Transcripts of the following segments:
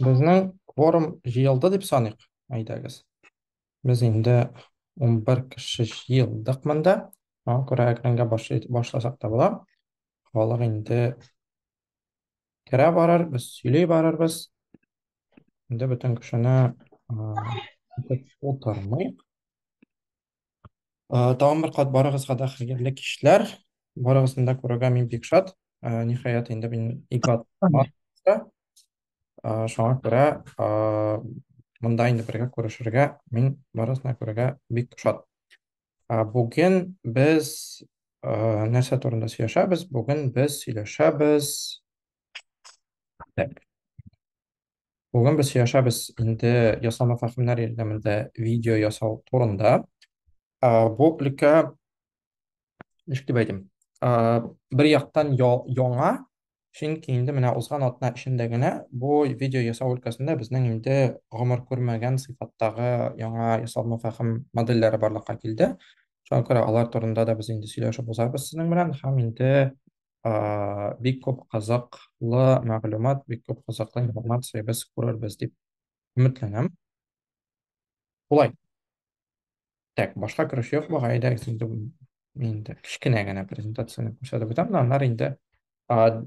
Безнең кворум җыелды дип саныйк. Әйдәгез. Без инде 11 кеше җыелдык монда. Аңа күрә экранга башласак та була. Халык инде керә барыр, без сөйли барырбыз. Инде бөтен кешене утырмыйк. Ә, тагын бер кат барыгызга да хәерле кичләр. Барыгызны да күрергә мин бик шат. Ә, ниһаять инде мин ике ат бар. Ә, шуңа күрә ә, монда инде бергә күрешергә мин барыгызны күрергә бик шат. Ә, бүген без ә, нәрсә турында сөйләшәбез? Бүген без сөйләшәбез. Так. Бүген без сөйләшәбез инде ясалма фәһемнәр ярдәмендә видео ясау турында. Бу өлкә ничек дип әйтим? Бер яктан яңа, чөнки инде менә узган атна эчендә генә бу видео ясау өлкәсендә безнең инде гомер күрмәгән сыйфаттагы яңа ясалма фәһем модельләре барлыкка килде. Шуңа күрә алар турында да без инде сөйләшеп узабыз сезнең белән һәм инде ә, бик күп кызыклы мәгълүмат, бик күп кызыклы информация без күрербез дип өметләнәм. Шулай. Так, башка кереш юк буга, әйдәгез инде инде кечкенә генә презентацияне күрсәтеп үтәм, аннары инде ә,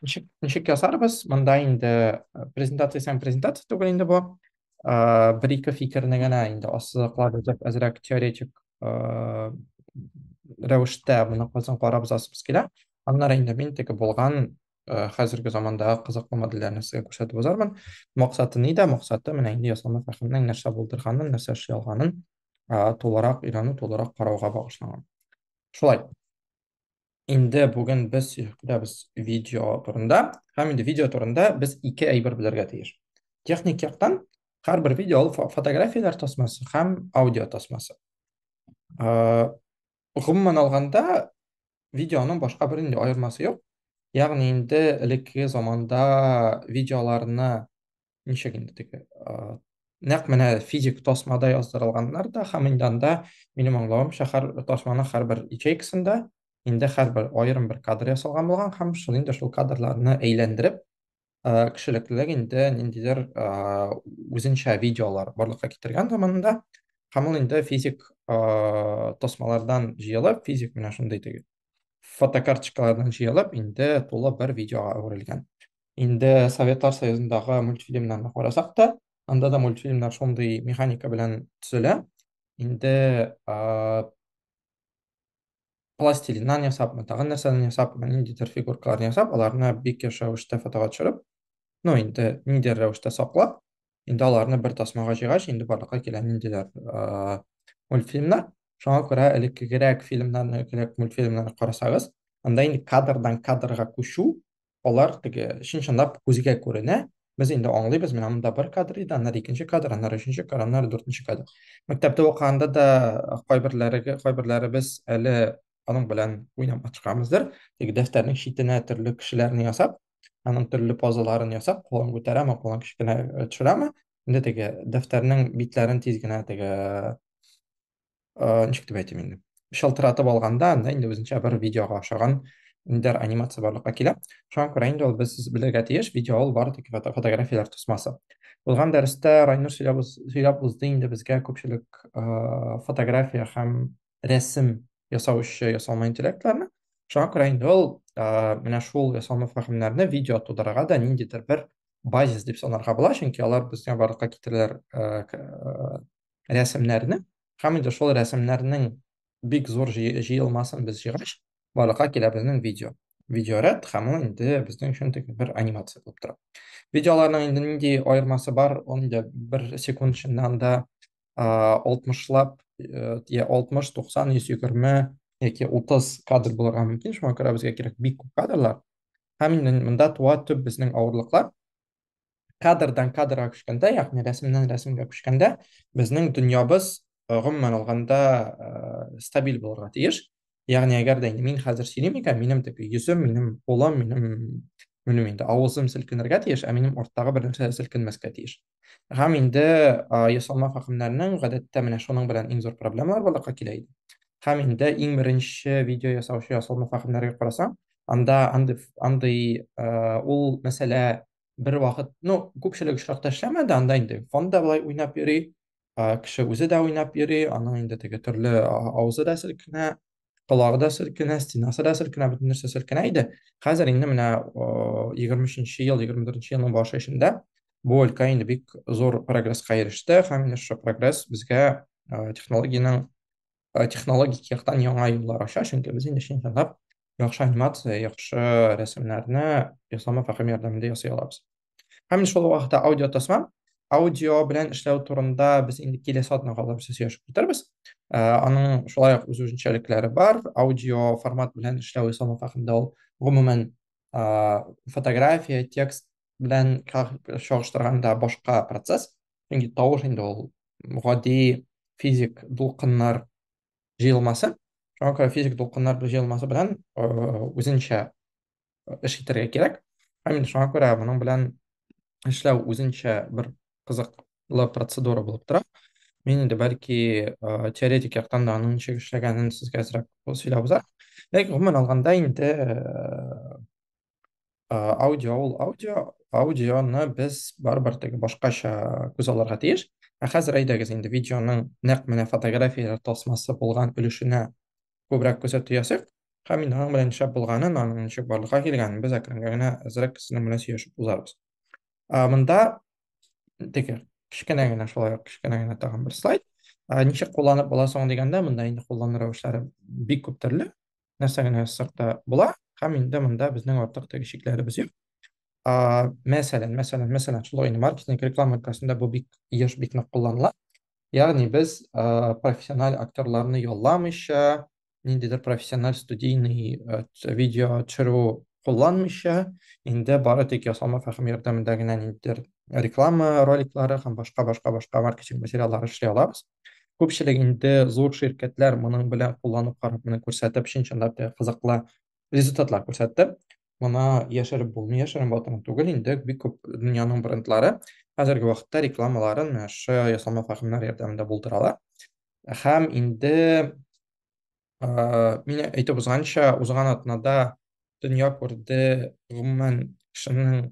ничек, ничек ясарбыз? Монда инде презентация һәм презентация түгел инде бу. бер-ике фикерне генә инде ассызыклап узып, әзрәк теоретик рәвештә моны кызын карап узасыбыз килә. Аннары инде мин теге булган хәзерге замандагы кызыклы модельләрне сезгә күрсәтеп узармын. Максаты нидә? Максаты менә инде ясалма фәһемнең нәрсә булдырганын, нәрсә эшли алганын тулырак өйрәнү, тулырак карауга багышланган. Шулай. Инде бүген без сөйләбез видео турында, һәм инде видео турында без ике әйбер белергә тиеш. Техник яктан һәрбер видео ул фотографияләр тасмасы һәм аудио тасмасы. Э, гомумән алганда, видеоның башка бер инде аермасы юк. Ягъни инде элекке заманда видеоларны ничек инде теге нәкъ менә физик тасмада яздырылганнар да һәм инде анда минем аңлавымча һәр тасманың һәрбер ячейкасында инде һәрбер аерым бер кадр ясалган булган һәм шул инде шул кадрларны әйләндереп кешелеклелек инде ниндидер үзенчә видеолар барлыкка китергән заманында һәм ул инде физик тасмалардан җыелып физик менә шундый теге фотокарточкалардан җыелып, инде тулы бер видеога әверелгән. Инде Советлар Союзындагы мультфильмнарны карасак та, анда да мультфильмнар шундый механика белән төзелә. Инде ә, пластилиннан ясапмы, тагын нәрсәдән ясапмы, ниндидер фигуркаларны ясап, аларны бик еш рәвештә фотога төшереп, ну инде ниндидер рәвештә саклап, Инде аларны бер тасмага җыйгач, инде барлыкка килә ниндиләр э, мультфильмнар. Шуңа күрә элеккегерәк фильмнарны, элеккерәк мультфильмнарны карасагыз, анда инде кадрдан кадрга күчү, алар теге чын-чынлап күзгә күренә. Без инде аңлыйбыз, менә монда бер кадр иде, аннары икенче кадр, аннары өченче кадр, аннары дүртенче кадр. Мәктәптә укыганда да кайберләре кайберләребез әле аның белән уйнап маташканбыздыр. Теге дәфтәрнең читенә төрле кешеләрне ясап, аның төрле позаларын ясап кулын күтәрәме кулын кечкенә э, төшерәме инде теге дәфтәрнең битләрен тиз генә теге э, ничек дип әйтим инде шалтыратып алганда анда инде үзенчә бер видеога охшаган ниндидер анимация барлыкка килә шуңа күрә инде ул без белергә тиеш видео ул бары тик фотографияләр тосмасы узган дәрестә райнур сөйләп узды инде безгә күпчелек э, фотография һәм рәсем ясаучы ясалма интеллектларны. Шуңа күрә инде ул менә шул ясалма фәһемнәрне видео тудырырга да ниндидер бер базис дип санарга була, чөнки алар безгә барлыкка китерәләр рәсемнәрне һәм инде шул рәсемнәрнең бик зур җыелмасын без җыйгач, барлыкка килә безнең видео. Видеоряд һәм ул инде безнең өчен тик бер анимация булып тора. Видеоларның инде нинди аермасы бар, ул инде бер секунд эчендә анда 60лап я 60 90 120 яки 30 кадр булырга мөмкин шуңа күрә безгә кирәк бик күп кадрлар һәм инде монда туа төп безнең авырлыклар кадрдан кадрга күчкәндә ягъни рәсемнән рәсемгә күчкәндә безнең дөньябыз гомумән алганда стабиль булырга тиеш ягъни әгәр дә мин хәзер сөйлим икән минем теге йөзем минем кулым минем минем инде авызым селкенергә тиеш ә минем арттагы бернәрсә селкенмәскә тиеш Һәм инде а, ясалма фәһемнәрнең гадәттә менә шуның белән иң зур проблемалар барлыкка килә иде. Һәм инде иң беренче видео ясаучы ясалма фәһемнәргә карасаң, анда андый андый а, ул мәсьәлә бер вакыт, ну, күпчелек очракта эшләмәде, анда инде фонда болай уйнап йөри, кеше үзе дә уйнап йөри, аның инде теге төрле авызы да селкенә, колагы да селкенә, стенасы да селкенә, бөтен нәрсә селкенә иде. Хәзер инде менә 23 ел, 24 елның башы эчендә бу өлкә инде бик зур прогресска иреште һәм менә шушы прогресс безгә технологиянең технологик яктан яңа юллар ача, чөнки без инде чын җанлап яхшы анимация, яхшы рәсемнәрне ясалма фәһем ярдәмендә ясый алабыз. Һәм инде шул вакытта аудио тасма, аудио белән эшләү турында без инде киләсе атнага алып сөйләшеп китәрбез. Э, аның шулай ук үз үзенчәлекләре бар. Аудио формат белән эшләү исламов хакында ул гомумән э, фотография, текст белән чагыштырганда башка процесс. Чөнки тавыш инде ул гади физик дулкыннар җыелмасы. Шуңа күрә физик дулкыннар җыелмасы белән э, үзенчә эш итәргә кирәк. Һәм инде шуңа күрә моның белән эшләү үзенчә бер кызыклы процедура булып тора. Мин инде бәлки э, теоретик яктан да аның ничек эшләгәнен сезгә әзрәк сөйләп узармын. Ләкин гомумән алганда инде э, аудио ул аудио, аудионы без барыбер теге башкача күз алырга тиеш. Ә хәзер әйдәгез инде видеоның нәкъ менә фотографияләр тасмасы булган өлешенә күбрәк күзәтү ясыйк. Һәм инде аның белән нишләп булганын, аның ничек барлыкка килгәнен без әкренләп генә әзрәк кешенең белән сөйләшеп узарбыз. Монда теге кечкенә генә шулай ук кечкенә генә тагын бер слайд. Ничек кулланып була соң дигәндә, монда инде куллану рәвешләре бик күп төрле. Нәрсә генә язсак та була. Һәм инде монда безнең артык теге чикләребез юк. Мәсәлән, мәсәлән, мәсәлән, шулай инде маркетинг реклама өлкәсендә бу бик еш бик нык кулланыла. Ягъни без э, профессиональ актерларны ялламыйча, ниндидер профессиональ студийный э, видео төшерү кулланмыйча, инде бары тик ясалма фәһем ярдәмендә генә ниндидер реклама роликлары һәм башка башка башка маркетинг материаллары эшли алабыз. Күпчелек инде зур ширкәтләр моның белән кулланып карап, моны күрсәтеп, чын чынлап та кызыклы результатлар күрсәтте. Моны яшереп булмый, яшерен батырын түгел, инде бик күп дөньяның брендлары хәзерге вакытта рекламаларын менә шы ясалма фармнар ярдәмендә булдыралар. Һәм инде ә, мин әйтеп узганча, узган атнада дөнья күрде гомумән кешенең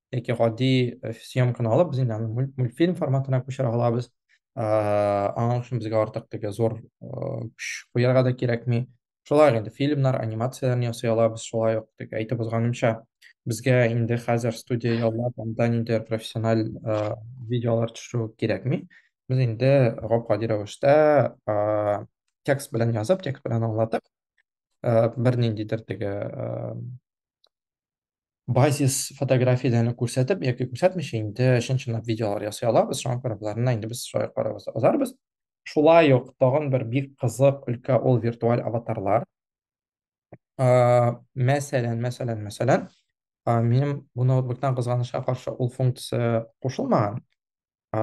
яки гади э, съемканы алып без инде аны мультфильм форматына күчерә алабыз э, аның өчен безгә артык теге зур э, көч куярга да кирәкми шулай инде фильмнар анимацияләрне ясый алабыз шулай ук теге әйтеп узганымча безгә инде хәзер студия яллап анда нинди профессиональ видеолар төшерү кирәкми без инде гап гади рәвештә текст белән язып текст белән аңлатып бер ниндидер теге базис фотографияләрне күрсәтеп яки күрсәтмичә инде чын чынлап видеолар ясый алабыз шуңа күрә боларны инде без шулай карарбыз узарбыз шулай ук тагын бер бик кызык өлкә ул виртуаль аватарлар мәсәлән мәсәлән мәсәлән минем бу ноутбуктан кызганычка каршы ул функция кушылмаган ә,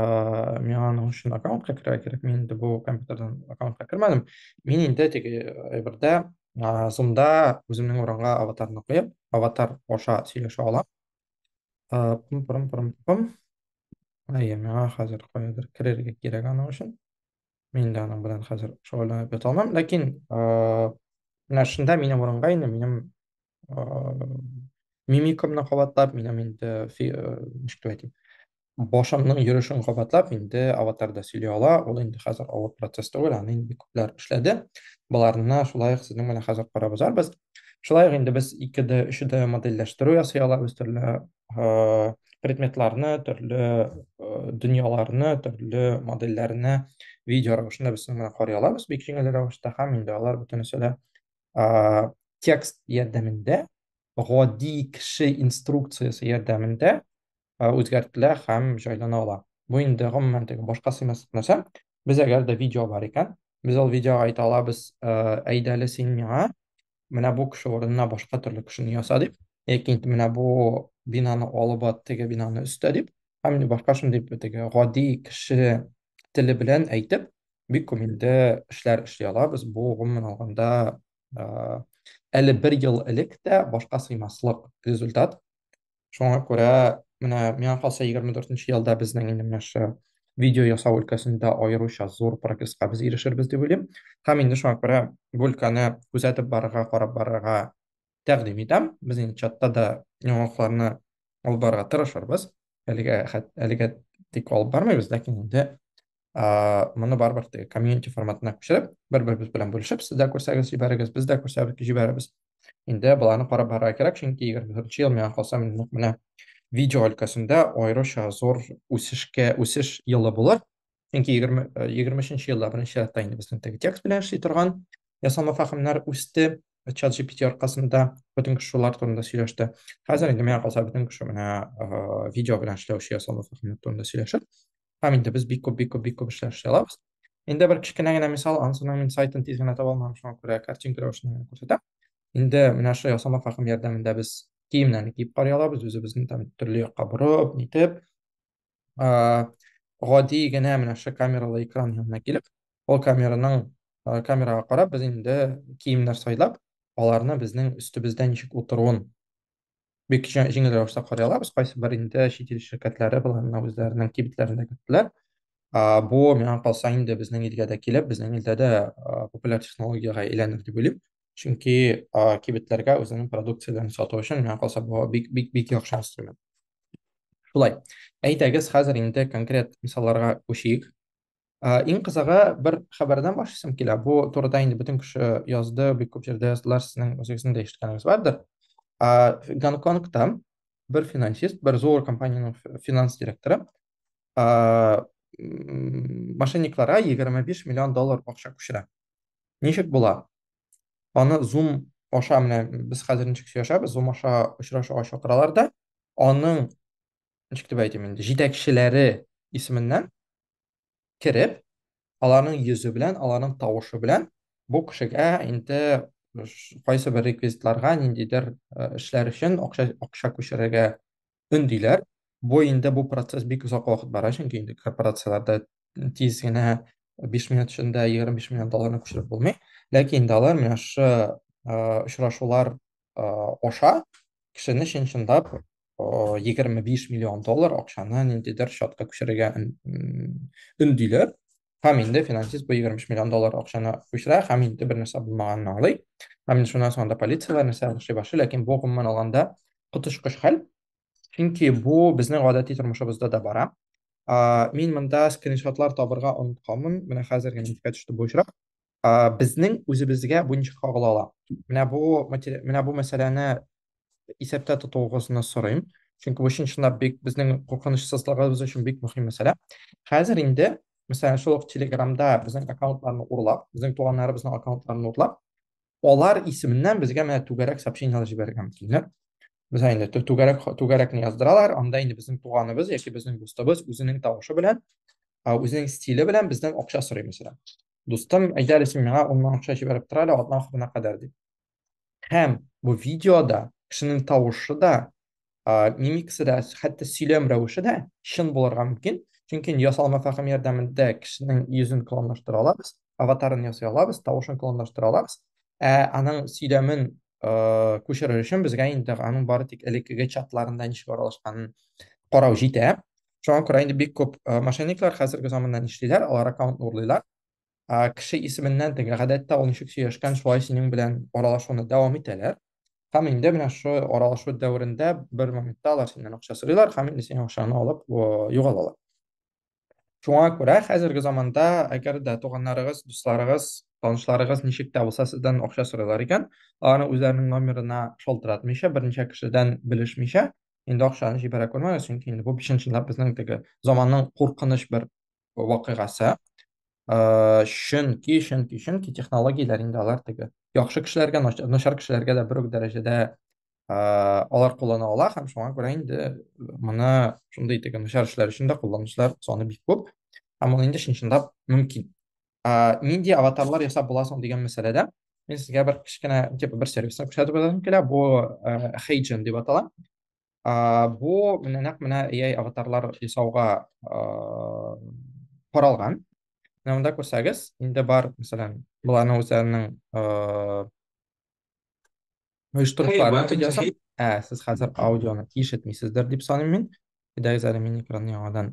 миңа аның өчен аккаунтка керә кирәк, мин инде бу компьютердан аккаунтка кермәдем. Мин инде теге әйбердә, ә, Zoom-да үземнең урынга аватарны куеп, аватар аша сөйләшә алам. Ә, пым пырым пырым пым. Әйе, миңа хәзер каядыр керергә кирәк аның өчен. Мин дә аның белән хәзер шөгыльләнеп ята алмам, ләкин, ә, менә шунда минем урынга инде минем мимикамны кабатлап, минем инде ничек дип әйтим, башымның йөрешен кабатлап, инде аватар да сөйли ала, ул инде хәзер авыр процесс түгел, аны инде күпләр эшләде. Боларны шулай ук сезнең белән хәзер карап узарбыз. Шулай ук инде без 2D, 3D модельләштерү ясый алабыз, төрле предметларны, төрле дөньяларны, төрле модельләрне видео рәвешендә без сезнең белән карый алабыз, бик җиңел рәвештә, һәм инде алар бөтенесе дә ә, текст ярдәмендә, гади кеше инструкциясе ярдәмендә ә, үзгәртелә һәм җайлана ала. Бу инде гомумән теге башка сыймаслык нәрсә. Без әгәр дә видео бар икән, без ул видеога әйтә алабыз, ә, әйдәле син миңа менә бу кеше урынына башка төрле кешене яса дип, яки менә бу бинаны алып ат, теге бинаны өстә дип, һәм башка шундый теге гади кеше теле белән әйтеп, бик күңелле эшләр эшли алабыз. Бу, гомумән алганда, әле бер ел элек тә башка сыймаслык результат. Шуңа күрә менә миңа калса 24 елда безнең инде менә шушы видео ясау өлкәсендә аеруча зур прогресска без ирешербез дип уйлыйм. Һәм инде шуңа күрә бу өлкәне күзәтеп барырга, карап барырга тәкъдим итәм. Без инде чатта да яңалыкларны алып барырга тырышырбыз. Әлегә әлегә тик алып бармыйбыз, ләкин инде моны барыбер теге комьюнити форматына күчереп, бер-беребез белән бүлешеп, сез дә күрсәгез, җибәрегез, без дә күрсәбез, җибәрәбез. Инде боларны карап барырга кирәк, чөнки 24 ел миңа калса нәкъ менә видео өлкәсендә аеруча зур үсешкә, үсеш елы булыр. Чөнки 20-23 елда беренче чиратта инде безнең теге текст белән эшли торган ясалма фәһемнәр үсте. Чат GPT аркасында бөтен кеше шулар турында сөйләште. Хәзер инде миңа калса бөтен кеше менә видео белән эшләүче ясалма фәһемнәр турында сөйләшер. Һәм инде без бик күп бик күп бик күп эшләр эшли алабыз. Инде бер кечкенә генә мисал, ансының мин сайтын тиз генә таба алмадым, шуңа күрә картинка рәвешендә генә күрсәтәм. Инде менә шул ясалма фәһем ярдәмендә без киемнәрне киеп карый алабыз, үзебезне там төрле якка борып, нитеп, гади генә менә шушы камералы экран янына килеп, ул камераның камерага карап, без инде киемнәр сайлап, аларны безнең өстебездә ничек утыруын бик җиңел рәвештә карый алабыз. Кайсы бер инде чит ил ширкәтләре боларны үзләренең кибетләрендә көттеләр. Бу миңа калса инде безнең илгә дә килеп, безнең илдә дә популяр технологиягә әйләнер дип уйлыйм. Чөнки а, кибетләргә үзенең продукцияләрен сату өчен миңа калса бу бик бик бик яхшы инструмент. Шулай. Әйдәгез хәзер инде конкрет мисалларга күчик. А, иң кызыгы бер хәбәрдән башлыйсым килә. Бу турыда инде бөтен кеше язды, бик күп җирдә яздылар, сезнең үзегезнең дә ишеткәнегез бардыр. А, Гонконгта бер финансист, бер зур компаниянең финанс директоры а, мошенникларга 25 миллион доллар акча күчерә. Ничек була? Аны Zoom аша менә без хәзер ничек сөйләшәбез, Zoom аша очрашуга чакыралар да, аның ничек дип әйтим инде, җитәкчеләре исеменнән кереп, аларның йөзе белән, аларның тавышы белән бу кешегә инде кайсы бер реквизитларга ниндидер э, эшләр өчен акча акча күчерергә өндиләр. Бу инде бу процесс бик озак вакыт бара, чөнки инде корпорацияләрдә тиз генә 5 минут эчендә 25 миллион долларны күчереп булмый. Ләкин инде алар менә шушы очрашулар аша кешене чын-чынлап 25 миллион доллар акчаны ниндидер счетка күчерергә өндиләр. Һәм инде финансист бу 70 миллион доллар акчаны күчерә һәм инде бер нәрсә булмаганын аңлый. Һәм инде шуннан соң анда полицияләр нәрсә эшли башлый, ләкин бу гомумән алганда коточкыч хәл. Чөнки бу безнең гадәти тормышыбызда да бара. Мин монда скриншотлар табырга онытканмын, менә хәзер генә искә төште бу очрак. а, безнең үзебезгә буенча кагыла ала. Менә бу менә бу мәсьәләне исәптә тотуыгызны сорыйм. Чөнки бу чынлап бик безнең куркынычсызлыгыбыз өчен бик мөһим мәсьәлә. Хәзер инде, мәсәлән, шул ук Телеграмда безнең аккаунтларны урлап, безнең туганнарыбызның аккаунтларын урлап, алар исеменнән безгә менә түгәрәк сообщениеләр җибәргән килнер. Без инде түгәрәк түгәрәкне яздыралар, анда инде безнең туганыбыз яки безнең дустыбыз үзенең тавышы белән, үзенең стиле белән бездән акча сорый мәсәлән. дустым, әйдә әле син миңа 10 мең акча җибәреп тор әле атна ахырына кадәр дип. Һәм бу видеода кешенең тавышы да, мимикасы да, хәтта сөйләм рәвеше дә чын булырга мөмкин. Чөнки ясалма фәһем ярдәмендә кешенең йөзен клонлаштыра алабыз, аватарын ясый алабыз, тавышын клонлаштыра алабыз. Ә аның сөйләмен күчерер өчен безгә инде аның бары тик элеккеге чатларында ничек аралашканын карау җитә. шуңа күрә инде бик күп э, мошенниклар хәзерге заманда нишлиләр алар аккаунтны урлыйлар ә, кеше исеменнән теге гадәттә ул ничек сөйләшкән шулай синең белән аралашуны дәвам итәләр һәм инде менә шул аралашу дәверендә бер моментта алар синнән акча сорыйлар һәм инде синең акчаны алып югалалар шуңа күрә хәзерге заманда әгәр дә туганнарыгыз дусларыгыз танышларыгыз ничек тә булса сездән акча сорыйлар икән аларны үзләренең номерына шалтыратмыйча берничә кешедән белешмичә инде акчаны җибәрә күрмәгез, чөнки инде бу чын-чынлап безнең теге заманның куркыныч бер вакыйгасы. Э, чөнки, чөнки, чөнки технологияләр инде алар теге яхшы кешеләргә, начар кешеләргә дә бер үк дәрәҗәдә э, алар куллана ала һәм шуңа күрә инде моны шундый теге начар эшләр өчен дә кулланучылар саны бик күп. Һәм ул инде чын-чынлап мөмкин. ә, нинди аватарлар ясап була соң дигән мәсьәләдә мин сезгә бер кечкенә типа бер сервисны күрсәтеп узасым килә бу ә, хейджен дип атала ә, бу менә нәкъ менә ai аватарлар ясауга ә, каралган менә монда күрсәгез инде бар мәсәлән боларның үзләренең ә, оештырышларын видеосын ә сез хәзер аудионы ишетмисездер дип саныйм мин әйдәгез әле мин экранны яңадан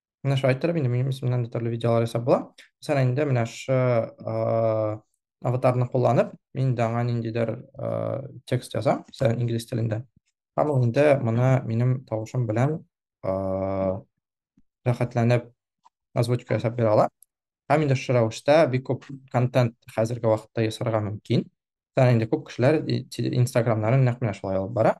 менә шулай иттереп инде минем исемнән дә төрле видеолар ясап була мәсәлән инде менә шы аватарны кулланып мин инде аңа ниндидер текст язам мәсәлән инглиз телендә һәм ул инде моны минем тавышым белән рәхәтләнеп озвучка ясап бирә ала һәм инде шы рәвештә бик күп контент хәзерге вакытта ясарга мөмкин мәсәлән инде күп кешеләр инстаграмнарын нәкъ менә шулай алып бара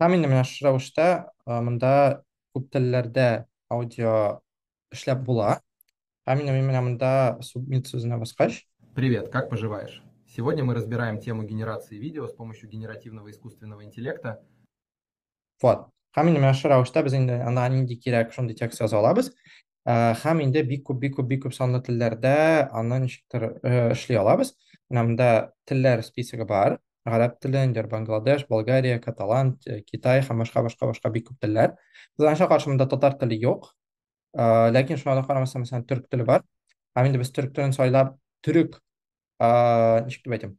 Һәм инде менә шушы рәвештә э, монда күп телләрдә аудио эшләп була. Һәм инде мин менә монда submit сүзенә баскач, Привет, как поживаешь? Сегодня мы разбираем тему генерации видео с помощью генеративного искусственного интеллекта. вот. Һәм инде менә шушы рәвештә без инде ана нинди кирәк шундый текст яза алабыз. Э, һәм инде бик күп бик күп бик күп санлы телләрдә аны ничектер э, эшли алабыз менә монда телләр списогы бар гарәп теле индер бангладеш болгария каталан э, китай һәм башка башка башка бик күп телләр кызганычка каршы монда татар теле юк э, ләкин шуңа да карамастан мәсәлән төрк теле бар һәм инде без төрк телен сайлап төрек ничек дип әйтим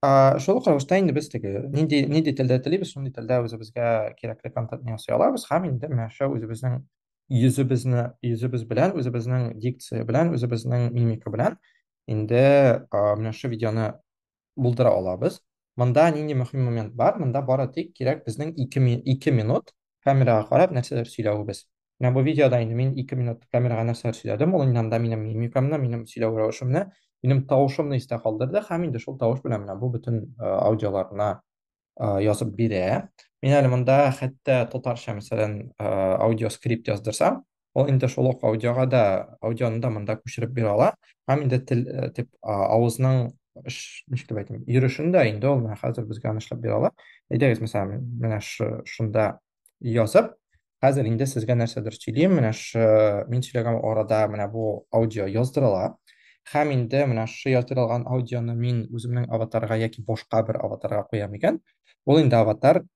Ә, шул ук рәвештә инде без теге нинди нинди телдә телибез, шундый телдә үзебезгә кирәкле контентны ясый алабыз һәм инде менәшә үзебезнең йөзебезне йөзебез белән, үзебезнең дикция белән, үзебезнең мимика белән инде а, менә шушы видеоны булдыра алабыз. Монда нинди мөһим момент бар? Монда бары тик кирәк безнең 2 ми- 2 минут камераға карап нәрсәләр сөйләвебез. Менә бу видеода инде мин 2 минут камерага нәрсәләр сөйләдем, ул инде минем мимикамны, минем сөйләү рәвешемне, минем тавышымны истә калдырды һәм инде шул тавыш белән менә бу бөтен э, аудиоларына э, язып бирә. Мин әле монда хәтта татарча, мәсәлән, э, аудиоскрипт яздырсам, Ул инде шул ук аудиога да, аудионы да монда күчереп бирә ала. Һәм инде тел, э, дип, авызның эш, ничек дип әйтим, йөрешен дә инде ул менә хәзер безгә анышлап бирә ала. Әйдәгез, мәсәлән, менә шунда язып, хәзер инде сезгә нәрсәдер сөйлим, менә ш, мин сөйләгән арада менә бу аудио яздырыла. Һәм инде менә ш яздырылган аудионы мин үземнең аватарга яки башка бер аватарга куям икән, ул инде аватар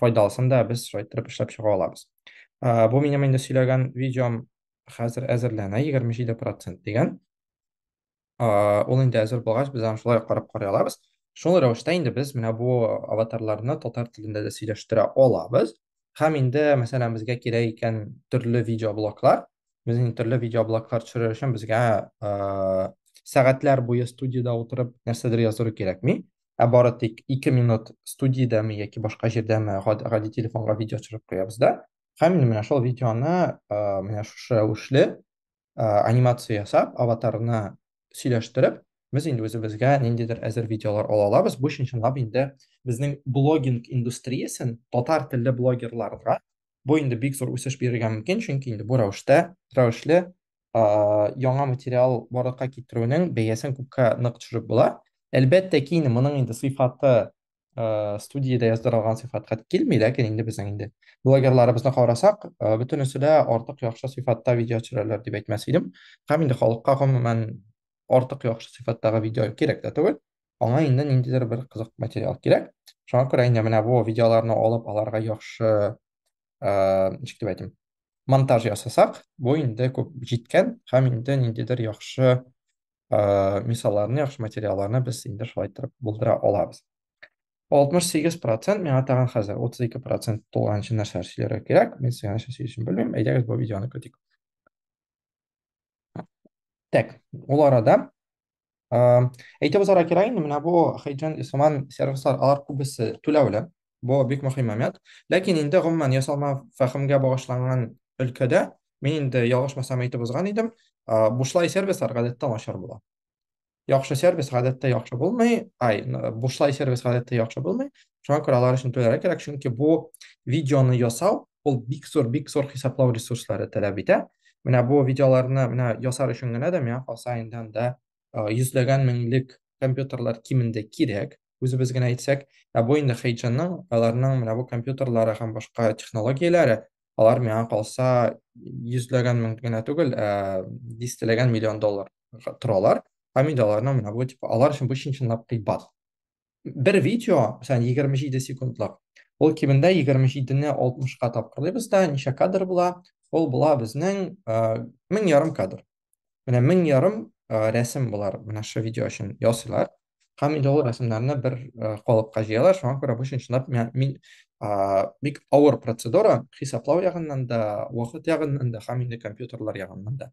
файдалысын да без шулай иттереп эшләп чыга алабыз. Ә, бу минем инде сөйләгән видеом хәзер әзерләнә 27% дигән. Ә, ул инде әзер булгач, без аны шулай карап карый алабыз. Шул рәвештә инде без менә бу аватарларны татар телендә дә сөйләштерә алабыз. Һәм инде, мәсәлән, безгә кирәк икән төрле видеоблоклар. Без инде төрле видеоблоклар төшерер өчен безгә ә, сәгатьләр буе студиядә утырып нәрсәдер яздыру кирәкми. ә бары тик 2 минут студиядәме яки башка җирдәме гади телефонга видео төшереп куябыз да. Һәм мин менә шул видеоны менә шушы рәвешле анимация ясап, аватарны сөйләштереп, без инде үзебезгә ниндидер әзер видеолар ала алабыз. Бу өчен чынлап инде безнең блогинг индустриясен татар телле блогерларга бу инде бик зур үсеш бирергә мөмкин, чөнки инде бу рәвештә, рәвешле яңа материал барлыкка китерүнең бәясен күпкә нык төшереп була. Әлбәттә ки, инде моның инде сыйфаты студиядә яздырылган сыйфатка килми, ләкин инде безнең инде блогерларыбызны карасак, бөтенесе дә артык яхшы сыйфатта видео төшерәләр дип әйтмәс идем. Һәм инде халыкка гомумән артык яхшы сыйфаттагы видео кирәк тә түгел. Аңа инде ниндидер бер кызык материал кирәк. Шуңа күрә инде менә бу видеоларны алып, аларга яхшы ә, ничек дип әйтим монтаж ясасак бу инде күп җиткән һәм инде ниндидер яхшы ә, мисалларны яхшы материалларны без инде шулай итеп булдыра алабыз 68 процент миңа тагын хәзер 32 процент тулганчы нәрсәләр сөйләргә кирәк мен сезгә нәрсә сөйләшим белмим әйдәгез бу видеоны көтик Так, ул арада әйтеп узарга кирәк инде, менә бу Хейджен Исламан сервислар, алар күбесе түләүле. Бу бик мөһим момент. Ләкин инде гомумән ясалма фәһемгә багышланган өлкәдә мин инде ялгышмасам әйтеп узган идем, бушлай сервислар гадәттә начар була. яхшы сервис гадәттә яхшы булмый, ай, бушлай сервис гадәттә яхшы булмый. Шуңа күрә алар өчен түләргә кирәк, чөнки бу видеоны ясау ул бик зур, бик зур хисаплау ресурслары таләп итә. Менә бу видеоларны менә ясар өчен генә дә миңа калса инде анда йөзләгән меңлек компьютерлар кимендә кирәк. үзебез генә әйтсәк, ә бу инде Хейджинның, аларның менә бу компьютерлары һәм башка технологияләре, алар миңа калса йөзләгән мең генә түгел, ә дистәләгән миллион доллар торалар. Һәм инде аларның менә бу типа алар өчен бу чын-чынлап кыйбат. Бер видео, мәсәлән, 27 секундлык. Ул кимендә 27-не 60-ка тапкырлыйбыз да, ничә кадр була? Ул була безнең мең ярым кадр. Менә мең ярым рәсем болар менә шушы видео өчен ясыйлар. Һәм инде ул рәсемнәрне бер калыпка җыялар, шуңа күрә бу чынлап мин бик авыр процедура, хисаплау ягыннан да, вакыт ягыннан да һәм инде компьютерлар ягыннан да.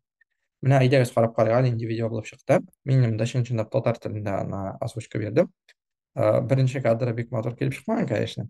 Менә әйдәгез карап карыйк, нинди видео булып чыкты. Мин инде чын-чынлап татар телендә ана озвучка бирдем. Беренче кадры бик матур килеп чыкмаган, конечно.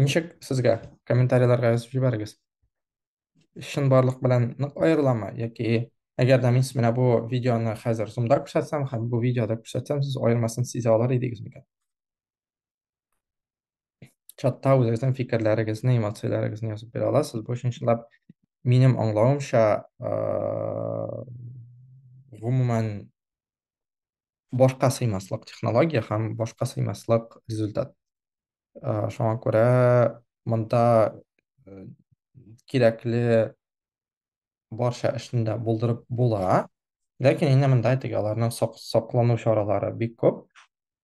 Ничек сезгә? Комментарийларга язып җибәрегез. Чынбарлык белән нык аерыламы яки әгәр дә мин менә бу видеоны хәзер зумда күрсәтсәм һәм бу видеода күрсәтсәм, сез аермасын сизә алар идегез микән? Чатта үзегезнең фикерләрегезне, эмоцияләрегезне язып бирә аласыз. Бу өчен чынлап минем аңлавымча, гомумән башка сыймаслык технология һәм башка сыймаслык результат. Э, шуңа күрә монда э, кирәкле барча эшне дә булдырып була. Ләкин инде монда әйтик, аларның саклану чаралары бик күп.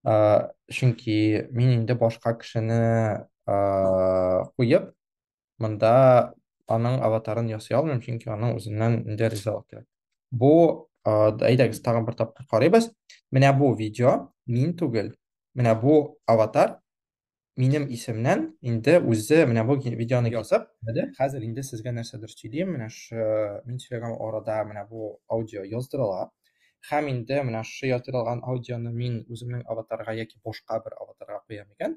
Э, чөнки мин инде башка кешене куеп, монда аның аватарын ясый алмыйм, чөнки аның үзеннән инде ризалык кирәк. Бу әйдәгез тагын бер тапкыр карыйбыз. Менә бу видео мин түгел. Менә бу аватар минем исемнән инде үзе менә бу видеоны язып, менә хәзер инде сезгә нәрсәдер сөйлим, менә шу мин сөйләгән арада менә бу аудио яздырыла. Һәм инде менә шу яздырылган аудионы мин үземнең аватарга яки башка бер аватарга куям икән.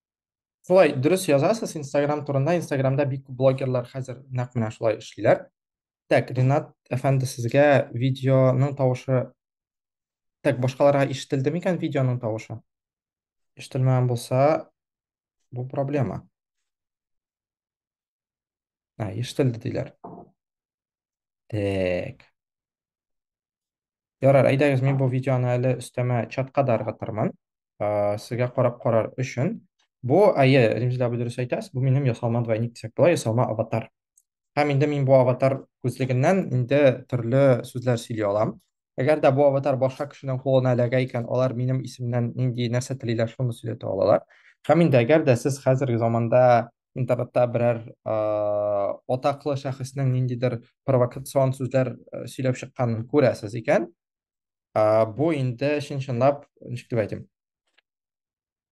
Шулай дөрес язасыз Instagram турында. Instagramда бик күп блогерлар хәзер нәкъ менә шулай эшлиләр. Так, Ринат әфәнде сезгә видеоның тавышы Так, башкаларга ишетелде микән видеоның тавышы? Ишетелмәгән булса, бу проблема. А, ишетелде диләр. Так. Ярар, әйдәгез, мин бу видеоны әле өстәмә чатка да ыргытырмын. Ә, Сезгә карап карар өчен. Бу, әйе, Римзилә абый дөрес әйтәс, бу минем ясалма двойник дисәк була, ясалма аватар. Һәм инде мин бу аватар күзлегеннән инде төрле сүзләр сөйли алам. Әгәр дә бу аватар башка кешенең кулына эләгә икән, алар минем исемнән нинди нәрсә телиләр, шуны сөйләтә алалар. Һәм инде әгәр дә сез хәзерге заманда интернетта берәр ә, атаклы шәхеснең ниндидер провокацион сүзләр ә, сөйләп чыкканын күрәсез икән, ә, бу инде чын-чынлап, ничек дип әйтим,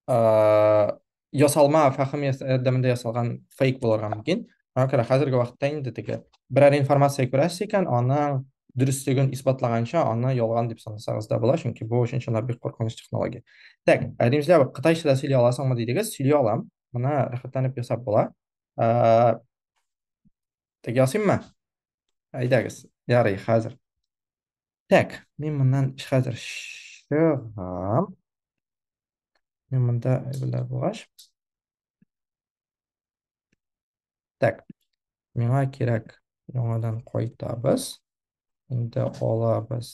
ә, ясалма фәһем ярдәмендә ясалган фейк булырга мөмкин. Аңа күрә хәзерге вакытта инде теге берәр информация күрәсез икән, аның дөреслеген исбатлаганча аны ялган дип санасагыз да була, чөнки бу өчен чынлап бик куркыныч технология. Так, ә димезләр, кытайча да сөйли аласыңмы дидегез, сөйли алам. Моны рәхәтләнеп ясап була. Ә, Тек ясыйммы? Әйдәгез. Ярый, хәзер. Так, мин моннан хәзер чыгам. Мин монда әйберләр булгач. Так. Миңа кирәк яңадан кайтабыз. Инде алабыз.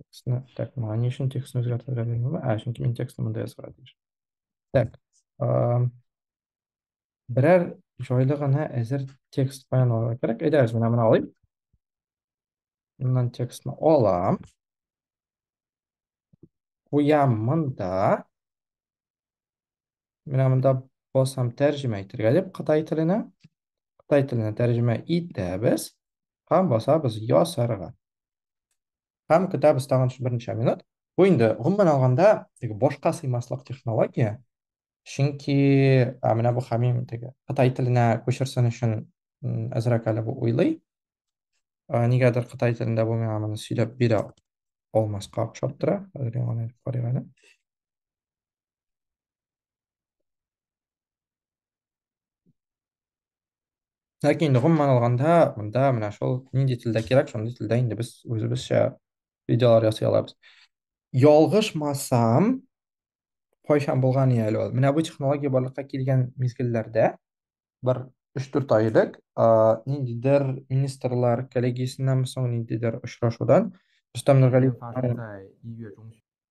Текстны, так, моңа ни өчен текстны үзгәртергә белмим. Ә, чөнки мин текстны монда язырга тиеш. Так. Берәр җайлы гына әзер текст файл алырга кирәк. Әйдәгез, менә моны алыйм. Моннан текстны алам. Куям монда. Менә монда басам тәрҗемә итергә дип кытай теленә. Кытай теленә тәрҗемә итәбез һәм басабыз ясарга. Һәм көтәбез тагын берничә минут. Бу инде гомумән алганда теге башка сыймаслык технология. Чөнки менә бу хамим теге кытай теленә күчерсен өчен әзрәк әле бу уйлый. Ә, нигәдер кытай телендә бу миңа моны сөйләп бирә алмаска охшап тора. Хәзер яңадан әйтеп карыйк әле. Ләкин инде гомумән алганда, монда менә шул нинди телдә кирәк, шундый телдә инде без үзебезчә видеолар ясый алабыз. Ялгышмасам, кайчан булган иде әле ул? Менә бу технология барлыкка килгән мизгелләрдә бер өч-дүрт ай элек ниндидер министрлар коллегиясеннән соң ниндидер очрашудан Рөстәм Нургалиев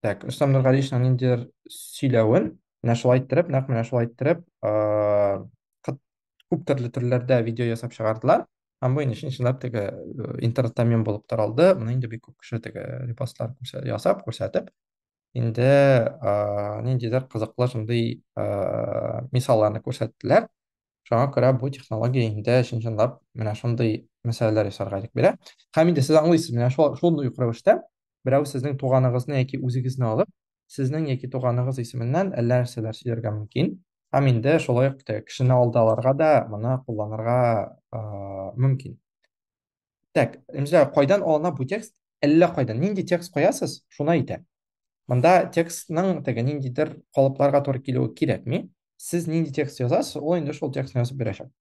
Так, Рөстәм Нургалиевның ниндидер сөйләвен менә шулай иттереп, нәкъ менә шулай иттереп, күп төрле төрләрдә видео ясап чыгардылар. Һәм бу инде чынлап теге интернетта мем булып таралды. Моны инде бик күп кеше теге репостлар ясап, күрсәтеп, инде ниндидер кызыклы шундый мисалларны күрсәттеләр. Шуңа күрә бу технология инде чын-чынлап менә шундый мәсьәләләр ясарга ирек бирә. Һәм инде сез аңлыйсыз, менә шул шундый ук рәвештә берәү сезнең туганыгызны яки үзегезне алып, сезнең яки туганыгыз исеменнән әллә нәрсәләр сөйләргә мөмкин. Һәм инде шулай ук кешене алдаларга да моны кулланырга мөмкин. Так, Ремзә, кайдан алына бу текст? Әллә кайдан. Нинди текст куясыз, шуны әйтә. Монда текстның теге ниндидер калыпларга туры килүе кирәкми. Сез нинди текст язасыз, ул инде шул текстны язып бирәчәк.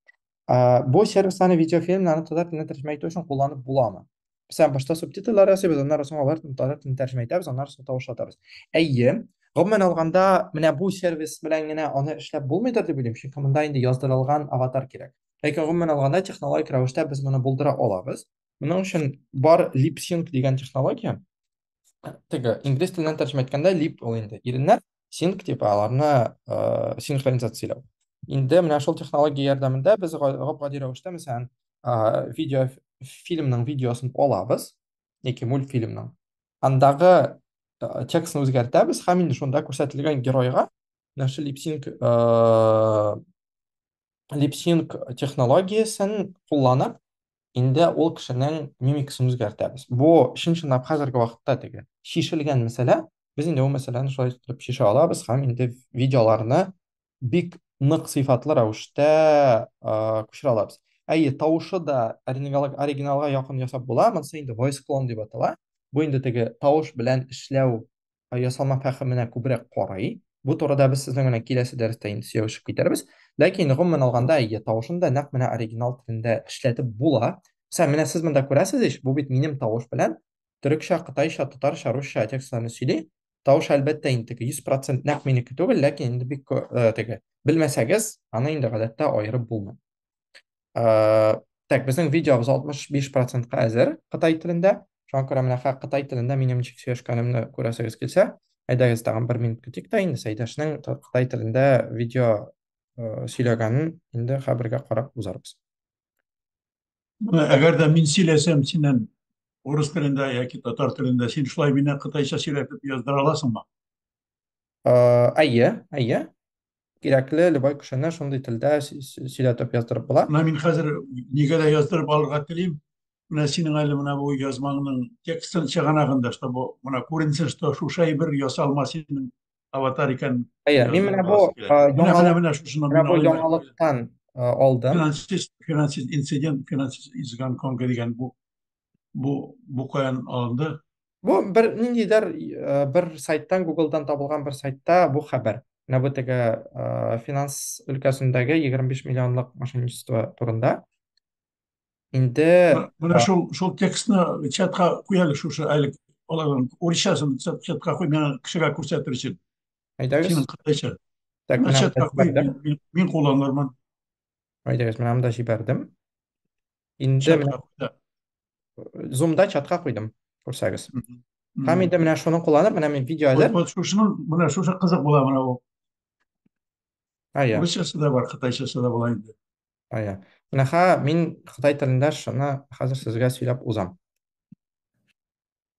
А, бу сервисларны видеофильмнарны татар теленә тәрҗемә итү өчен кулланып буламы? Мәсәлән, башта субтитрлар ясыйбыз, аннары соң алар татар телен тәрҗемә итәбез, аннары соң тавышлатабыз. Әйе, гомумән алганда, менә бу сервис белән генә аны эшләп булмыйдыр дип уйлыйм, чөнки монда инде яздырылган аватар кирәк. Ләкин гомумән алганда технологик рәвештә без моны булдыра алабыз. Моның өчен бар LipSync дигән технология. Теге инглиз теленнән тәрҗемә иткәндә lip ул инде иреннәр, sync дип аларны э, синхронизацияләү. Инде менә шул технология ярдәмендә без гап-гади рәвештә, мәсәлән, э, видео фильмның видеосын алабыз, яки мультфильмның. Андагы э, текстны үзгәртәбез һәм инде шунда күрсәтелгән геройга менә шул LipSync э, липсинг технологиясен кулланып инде ул кешенең мимикасын үзгәртәбез бу чын чынлап хәзерге вакытта теге шишелгән мәсьәлә без инде ул мәсьәләне шулай итеп шешә алабыз һәм инде видеоларны бик нык сыйфатлы рәвештә күчерә алабыз әйе тавышы да оригиналга якын ясап була монысы инде voice clone дип атала бу инде теге тавыш белән эшләү ясалма фәһеменә күбрәк карый. Бу турыда без сезнең белән киләсе дәрестә инде сөйләшеп китәрбез. Ләкин гомумән алганда, әйе, тавышын да нәкъ менә оригинал телендә эшләтеп була. Сәм, менә сез монда күрәсез ич, бу бит минем тавыш белән төрекчә, кытайча, татарча, русча текстларны сөйли. Тавыш әлбәттә инде теге 100% нәкъ минеке түгел, ләкин инде бик э, теге. Белмәсәгез, аны инде гадәттә аерып булмый. ә, так безнең видеобыз 65 процентка әзер кытай телендә шуңа күрә менә кытай телендә минем ничек сөйләшкәнемне күрәсегез килсә әйдәгез тагын бер минут көтик тә инде сәйдәшнең кытай телендә видео ә, сөйләгәнен инде хәбергә карап узарбыз әгәр дә мин сөйләсәм синнән урыс телендә яки татар телендә син шулай мине кытайча сөйләтеп яздыра аласыңмы әйе әйе кирәкле любой кешене шундый телдә сөйләтеп яздырып була. Менә мин хәзер нигә дә яздырып алырга телим. Менә синең әле менә бу язмаңның текстын чыганагында, что бу менә күренсен, что шушы әйбер ясалма синең аватар икән. Әйе, мин менә бу яңалыктан алдым. Финансист, финансист инцидент, финансист изган конга дигән бу бу бу каян алынды бу бер ниндидер э, бер сайттан гуглдан табылган бер сайтта бу хәбәр менә бу теге э, финанс өлкәсендәге 25 миллионлык мошенничество турында инде менә э, шул шул текстны чатка куяле шушы әле аларның урысчасын чатка куй миңа кешегә күрсәтер өчен әйдәгез синең кытайча так мин кулланырмын Әйдәгез, менә монда җибәрдем. Инде чатка куйды. Zoom-да чатка куйдым, күрсәгез. Һәм инде менә шуны кулланып, менә мин видео әзер. Вот шушының, менә шушы кызык була менә ул. Ая. Русчасы да бар, кытайчасы да була инде. Ая. Менә ха, мин кытай телендә шуны хәзер сезгә сөйләп узам.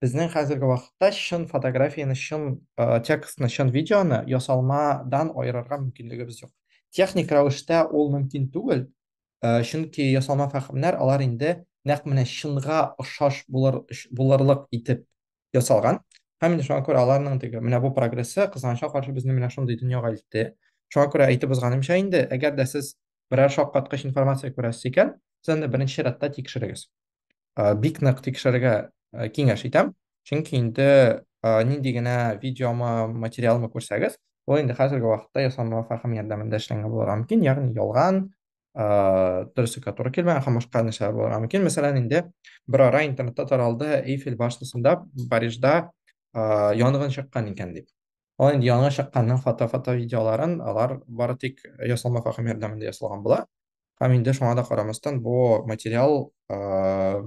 Безнең хәзерге вакытта чын фотографияне, чын э, текстны, чын видеоны ясалмадан аерырга мөмкинлегебез юк. Техник рәвештә ул мөмкин түгел, э, чөнки ясалма фәһемнәр алар инде нәкъ менә чынга ошаш булыр, булырлык итеп ясалган. Һәм инде шуңа күрә аларның теге менә бу прогрессы кызганычка каршы безне менә шундый дөньяга илтте. Шуңа күрә әйтеп узганымча инде, әгәр дә сез берәр шаккаткыч информация күрәсез икән, сез аны беренче рәттә тикшерегез. бик нык тикшерергә киңәш итәм чөнки инде нинди генә видеомы материалмы күрсәгез ул инде хәзерге вакытта ясалма фәһем ярдәмендә эшләнгән булырга мөмкин ягъни ялган дөреслеккә туры килмәгән һәм башка нәрсәләр булырга мөмкин мәсәлән инде бер ара интернетта таралды эйфель башнясында парижда янгын чыккан икән дип Ал инде яңа чыкканның фото-фото видеоларын алар бары тик ясалма фахим ярдәмендә ясалган була. Һәм инде шуңа да карамастан бу материал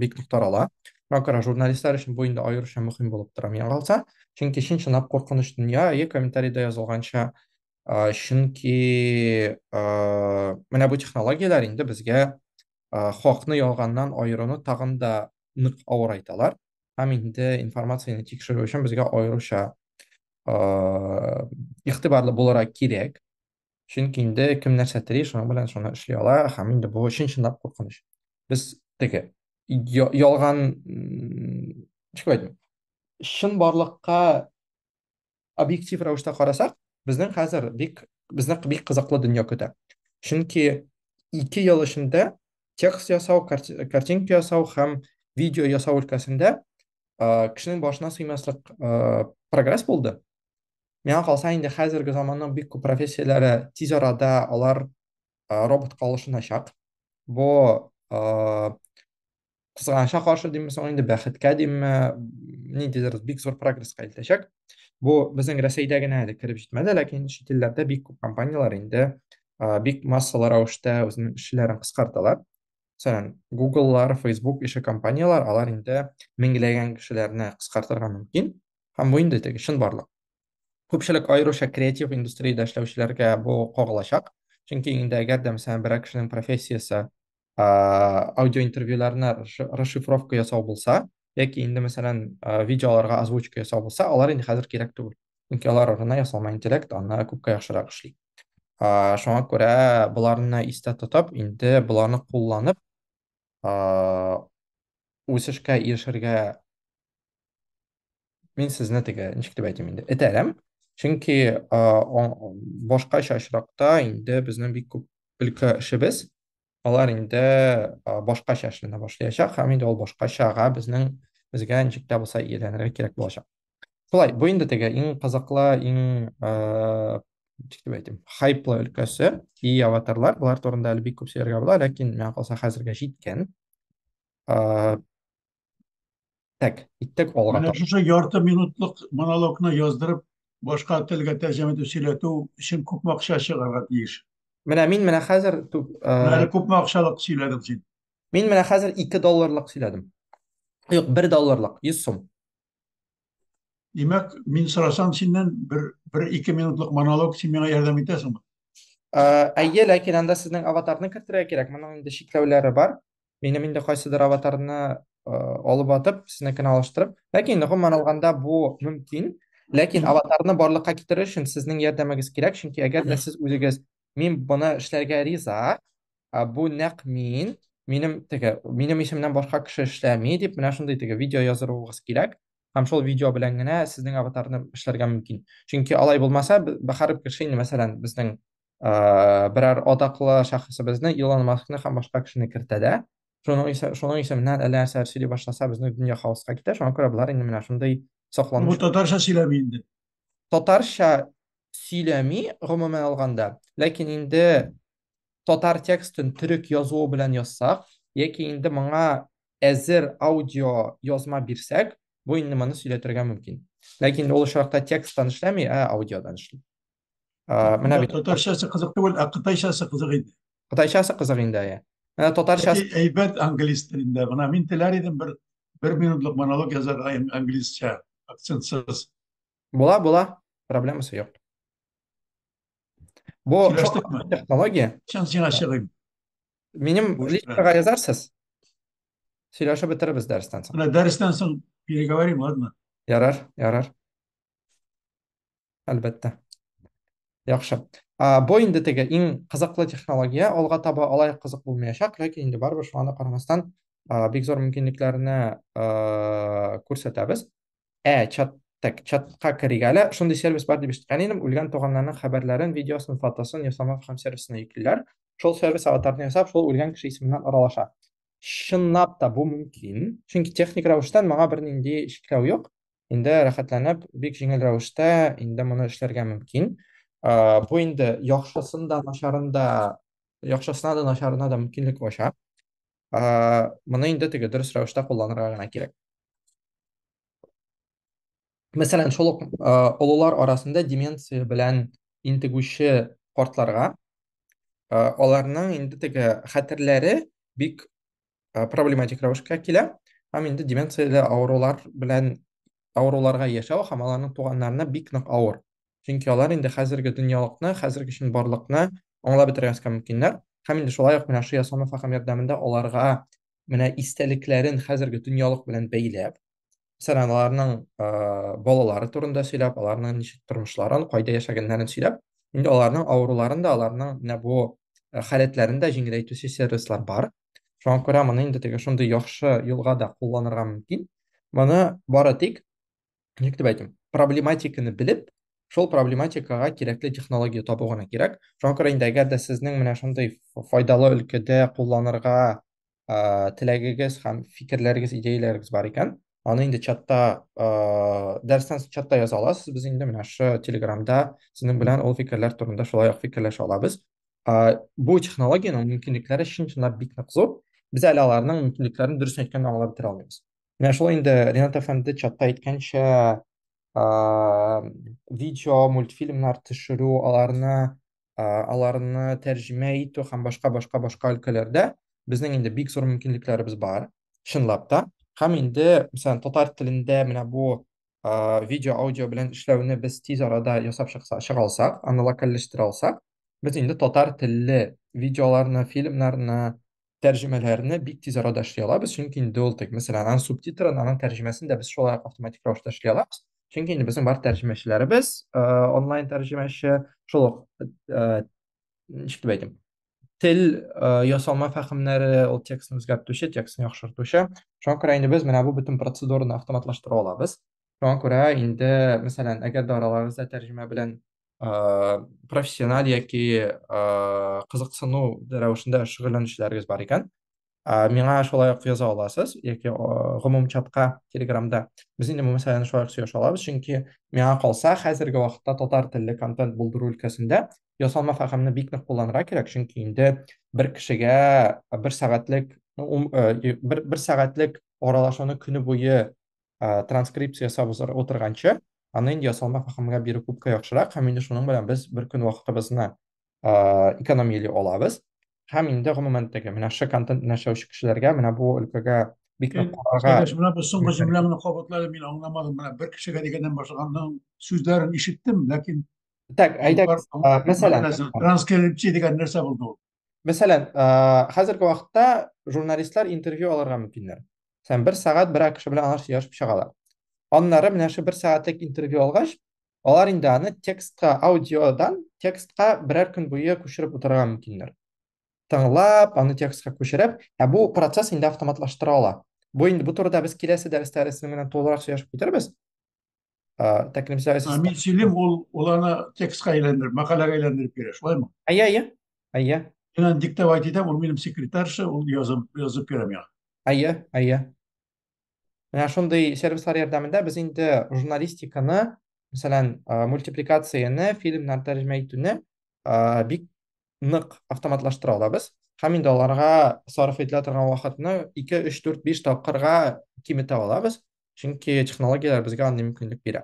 бик нык тарала. Макара журналистлар өчен бу инде аеруча мөһим булып тора миңа калса. Чөнки чын чынлап куркыныч дөнья, е комментариядә язылганча, чөнки менә бу технологияләр инде безгә хакны ялганнан аеруны тагын да нык авырайталар. һәм инде информацияне тикшерү өчен безгә аеруча игътибарлы булырга кирәк. Чөнки инде кем нәрсә тели, шуның белән шуны эшли ала, һәм инде бу чын-чынлап куркыныч. Без теге ялган, ничек әйтим, чын барлыкка объектив рәвештә карасак, безнең хәзер бик безне бик кызыклы дөнья көтә. Чөнки ике ел эчендә текст ясау, картинка ясау һәм видео ясау өлкәсендә кешенең башына сыймаслык прогресс булды. Миңа калса инде хәзерге заманның бик күп профессияләре тиз арада алар роботка алышыначак. Бу кызганычка каршы димме соң инде бәхеткә димме ниндидер бик зур прогрессқа илтәчәк бу безнең рәсәйдә генә әле кереп җитмәде ләкин чит илләрдә бик күп компанияләр инде бик массалы рәвештә үзенең эшчеләрен кыскарталар мәсәлән гугллар фейсбук ише компанияләр алар инде меңләгән кешеләрне кыскартырга мөмкин һәм бу инде теге чынбарлык күпчелек аеруча креатив индустриядә эшләүчеләргә бу кагылачак чөнки инде әгәр дә мәсәлән берәр кешенең профессиясе аудиоинтервьюларны расшифровка ясау булса яки инде мәсәлән видеоларга озвучка ясау булса алар инде хәзер кирәк түгел чөнки алар арына ясалма интеллект аны күпкә яхшырак эшли шуңа күрә боларны истә тотып инде боларны кулланып үсешкә ирешергә Мин сезне теге, ничек дип әйтим инде, этәрәм. Чөнки а, о- башкача очракта инде безнең бик күп өлкә эшебез, алар инде а, башкача эшләнә башлаячак һәм инде ул башкачага безнең безгә ничек тә булса ияләнергә кирәк булачак. Шулай, бу инде теге иң кызыклы, иң а, ничек дип әйтим, хайплы өлкәсе, и аватарлар, болар турында әле бик күп сөйләргә була, ләкин миңа калса хәзергә җиткән. А, Так, иттек алга. Менә шушы ярты минутлык монологны яздырып, башка телгә тәрҗемә итеп сөйләтү өчен күп акча чыгарга тиеш. Менә мин менә хәзер түк. Менә күп акчалык сөйләдем син. Мин менә хәзер 2 долларлык сөйләдем. Юк, 1 долларлык, 100 сум. Димәк, мин сорасам синнән бер бер ике минутлык монолог син миңа ярдәм итәсеңме? Әйе, ләкин анда сезнең аватарны кертергә кирәк. Моның инде чикләүләре бар. Минем инде кайсыдыр аватарны алып атып, сезнекенә алыштырып. Ләкин инде гомумән алганда бу мөмкин. Ләкин аватарны барлыкка китерер өчен сезнең ярдәмегез кирәк, чөнки әгәр дә сез үзегез Мин моны эшләргә риза. Ә, Бу нәкъ мин. Минем теге, минем исемнән башка кеше эшләми дип, менә шундый теге видео яздыруыгыз кирәк. Һәм шул видео белән генә сезнең аватарны эшләргә мөмкин. Чөнки алай булмаса, б- б- һәр кеше инде, мәсәлән, безнең ә, берәр атаклы шәхесебезне, Илон Маскны һәм башка кешене кертә дә, шуның исе- шуның исеменнән әллә нәрсәләр сөйли башласа, безнең дөнья хаоска китә. Шуңа күрә болар инде менә шундый Бу сокланыч татарча сөйләми инде. татарча сөйләми гомумән алганда, ләкин инде татар текстын төрек язуы белән язсак, яки инде моңа әзер аудио язма бирсәк, бу инде моны сөйләтергә мөмкин. Ләкин ул очракта тексттан эшләми, ә аудиодан эшли. Ә, менә бит. Татарчасы кызык түгел, ә кытайчасы кызык иде. Кытайчасы кызык инде, әйе. Ә татарчасы әйбәт английс телендә. Менә мин теләр идем бер бер минутлык монолог язарга английсча, акцентсыз. Була, була. Проблемасы юк. Бу технология. Чын сиңа чыгыйм. Минем личкага язарсыз. Сөйләшә бетеребез дәрестән соң. Менә дәрестән соң переговорим, ладно? Ярар, ярар. Әлбәттә. Яхшы. А, бу инде теге иң кызыклы технология, алга таба алай кызык булмаячак, ләкин инде барыбер шуңа да карамастан, а, бик зур мөмкинлекләрне а, күрсәтәбез. Ә, чат Так, чатка керик әле. Шундый сервис бар дип ишеткән идем. Үлгән туганнарның хәбәрләрен, видеосын, фотосын ясамак һәм сервисына йөклиләр. Шул сервис аватарны ясап, шул үлгән кеше исеменнән аралаша. Чынлап та бу мөмкин. Чөнки техник рәвештән моңа бернинди шикләү юк. инде рәхәтләнеп, бик җиңел рәвештә инде моны эшләргә мөмкин. Э, бу инде яхшысын да, начарын да, яхшысына да, начарына да мөмкинлек ача. Э, моны инде теге дөрес рәвештә кулланырга гына кирәк. Мәсәлән, шул ук э, олылар арасында деменция белән интегүче картларга э, аларның инде теге хәтерләре бик ә, проблематик рәвешкә килә һәм инде деменцияле авырулар белән авыруларга яшәү һәм аларның туганнарына бик нык авыр чөнки алар инде хәзерге дөньялыкны хәзерге чын барлыкны аңлап бетермәскә мөмкиннәр һәм инде шулай ук менә шыя самофахам ярдәмендә аларга менә истәлекләрен хәзерге дөньялык белән бәйләп Мәсәлән, аларның балалары турында сөйләп, аларның ничек тормышларын, кайда яшәгәннәрен сөйләп, инде аларның авыруларын да, аларның менә бу халәтләрен дә җиңеләйтүче сервислар бар. Шуңа күрә моны инде теге шундый яхшы юлга да кулланырга мөмкин. Моны бары тик, ничек дип әйтим, проблематиканы белеп, шул проблематикага кирәкле технология табу гына кирәк. Шуңа күрә инде әгәр дә сезнең менә шундый файдалы өлкәдә кулланырга ә, теләгегез һәм фикерләрегез, идеяләрегез бар икән, аны инде чатта, ә, дәрестән соң чатта яза аласыз. Без инде менә шы Телеграмда сезнең белән ул фикерләр турында шулай ук фикерләшә алабыз. Ә, бу технологиянең мөмкинлекләре чын-чынлап бик нык зур. Без әле аларның мөмкинлекләрен дөресен әйткәндә аңлап бетерә алмыйбыз. Менә шулай инде Ренат әфәнде чатта әйткәнчә, ә, видео, мультфильмнар төшерү, аларны аларны тәрҗемә итү һәм башка башка башка өлкәләрдә безнең инде бик зур мөмкинлекләребез бар чынлап та һәм инде мисәлән татар телендә менә бу видео аудио белән эшләүне без тиз арада ясап чыкса чыга алсак аны локальләштерә алсак без инде татар телле видеоларны фильмнарны тәрҗемәләрне бик тиз арада эшли алабыз, чөнки инде ул тек, мәсәлән, аның субтитрын, аның тәрҗемәсен дә без шулай автоматик рәвештә эшли алабыз. Чөнки инде безнең бар тәрҗемәчеләребез, э, онлайн тәрҗемәче, шул ук, э, ничек дип әйтим, тел, э, ясалма фәһемнәре, ул текстны үзгәртүче, текстны яхшыртучы. Шуңа күрә инде без менә бу бөтен процедураны автоматлаштыра алабыз. Шуңа күрә инде, мәсәлән, әгәр дә араларыгызда тәрҗемә белән профессиональ яки кызыксыну рәвешендә шөгыльләнүчеләрегез бар икән миңа шулай ук яза аласыз яки гомум чатка телеграмда без инде бу мәсьәләне шулай ук сөйләшә алабыз чөнки миңа калса хәзерге вакытта татар телле контент булдыру өлкәсендә ясалма фәһемне бик нык кулланырга кирәк чөнки инде бер кешегә бер сәгатьлек бер, бер сәгатьлек аралашуны көне буе ә, транскрипция ясап утырганчы, аны инде ясалма фәһемгә бирү күпкә яхшырак, һәм инде шуның белән без бер көн вакытыбызны ә, экономияли алабыз. Һәм инде гомумән теге менә шы контент нәшәүче кешеләргә менә бу өлкәгә бик нык карарга. Сәйдәш, менә бу соңгы җөмләңне кабатлады, мин аңламадым. Менә бер кешегә дигәннән башлаганның сүзләрен ишеттем, ләкин Так, әйдәгез, мәсәлән, транскрипция дигән нәрсә булды ул? мәсәлән хәзерге вакытта журналистлар интервью алырга мөмкиннәр сән бер сәгать бер кеше белән алар сөйләшеп чыгалар аннары менә шул бер сәгатьлек интервью алгач алар инде аны текстка аудиодан текстка берәр көн буе күчереп утырырга мөмкиннәр тыңлап аны текстка күчереп ә бу процесс инде автоматлаштыра ала бу инде бу турыда без киләсе дәрестә рәсем белән тулырак сөйләшеп китербез ә, тәкремсә ә мин сөйлим ул ул аны текстка әйләндереп мәкаләгә әйләндереп бирә шулаймы әйе әйе әйе мин аны диктовать итәм ул минем секретарша ул язып язып бирә миңа әйе әйе менә шундый сервислар ярдәмендә без инде журналистиканы мәсәлән мультипликацияне фильмнар тәрҗемә итүне бик нык автоматлаштыра алабыз һәм инде аларга сарыф ителә торган вакытны 2, 3, 4, 5 тапкырга киметә алабыз, чөнки технологияләр безгә андый мөмкинлек бирә.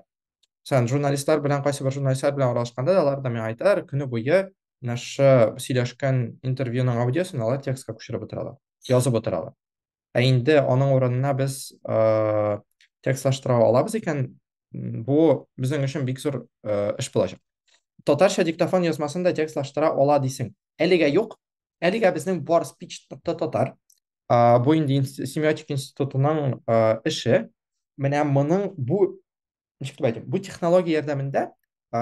Мәсәлән, журналистлар белән кайсы бер журналистлар белән аралашканда да алар да миңа айтар, көне буе менә шу сөйләшкән интервьюның аудиосын алар текстка күчереп утыралар, язып утыралар. Ә инде аның урынына без э, текстлаштыра алабыз икән, бу безнең өчен бик зур э, эш булачак. Татарча диктофон язмасын да текстлаштыра ала дисең. Әлегә юк. Әлегә безнең бар speech.tatar. Э, бу инде семиотик институтының э, эше. Менә моның бу ничек дип әйтим бу технология ярдәмендә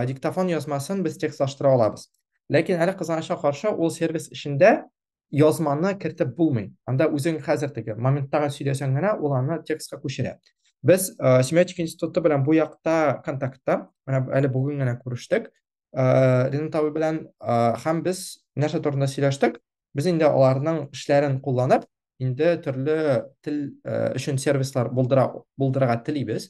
диктофон язмасын без текстлаштыра алабыз ләкин әле кызганычка каршы ул сервис эчендә язманы кертеп булмый анда үзең хәзер теге моменттагы сөйләсәң генә ул аны текстка күчерә без ә, семиотика институты белән бу якта контактта менә әле бүген генә күрештек ә, ринат абый белән ә, һәм без нәрсә турында сөйләштек без инде аларның эшләрен кулланып инде төрле тел ә, өчен сервислар булдыра булдырырга телибез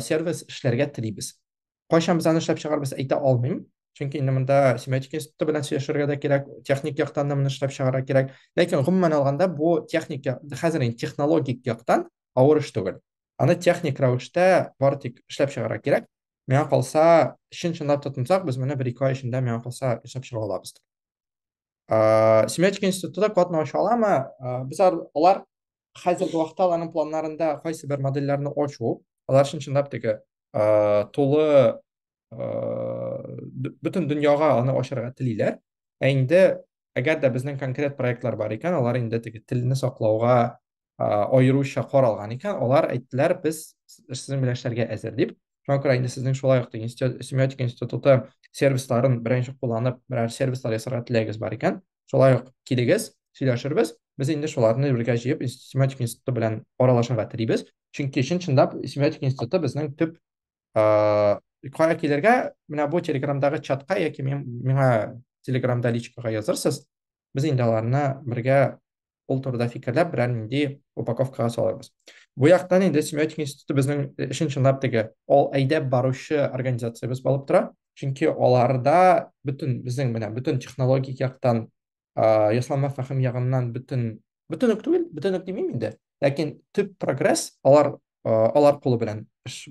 сервис эшләргә телибез. Кайчан без аны эшләп чыгарбыз, әйтә алмыйм. Чөнки инде монда семиотика институты белән сөйләшергә дә кирәк, техник яктан да моны эшләп чыгарга кирәк. Ләкин гомумән алганда бу техник хәзер инде технологик яктан авыр эш түгел. Аны техник рәвештә бары тик эшләп чыгарга кирәк. Миңа калса, чын-чынлап тотынсак, без моны бер-ике ай эчендә миңа калса эшләп чыга алабыз. Семиотика институты катнаша аламы? Без алар хәзерге вакытта аларның планнарында кайсы бер модельләрне ачу, алар өчен чынлап теге тулы бөтен дөньяга аны ачарга телиләр. Ә инде әгәр дә безнең конкрет проектлар бар икән, алар инде теге телне саклауга аеруча каралган икән, алар әйттеләр, без сезнең белән эшләргә әзер дип. Шуңа күрә инде сезнең шулай ук семиотика институты сервисларын беренче кулланып, берәр сервислар ясарга теләгегез бар икән, Шулай ук килегез, сөйләшербез. Без инде шуларны бергә җыеп семиотик институты белән аралашырга телибез. Чөнки чын чынлап семиотик институты безнең төп кая килергә, менә бу телеграмдагы чатка яки миңа телеграмда личкага язырсыз. Без инде аларны бергә ул турыда фикерләп берәр нинди упаковкага салырбыз бу яктан инде семиотика институты безнең өчен чынлап теге ол әйдәп баручы организациябез булып тора чөнки аларда бөтен безнең менә бөтен технологик яктан ясалма фәһем ягыннан бөтен бөтен үк түгел бөтен үк димим инде ләкин төп прогресс алар алар кулы белән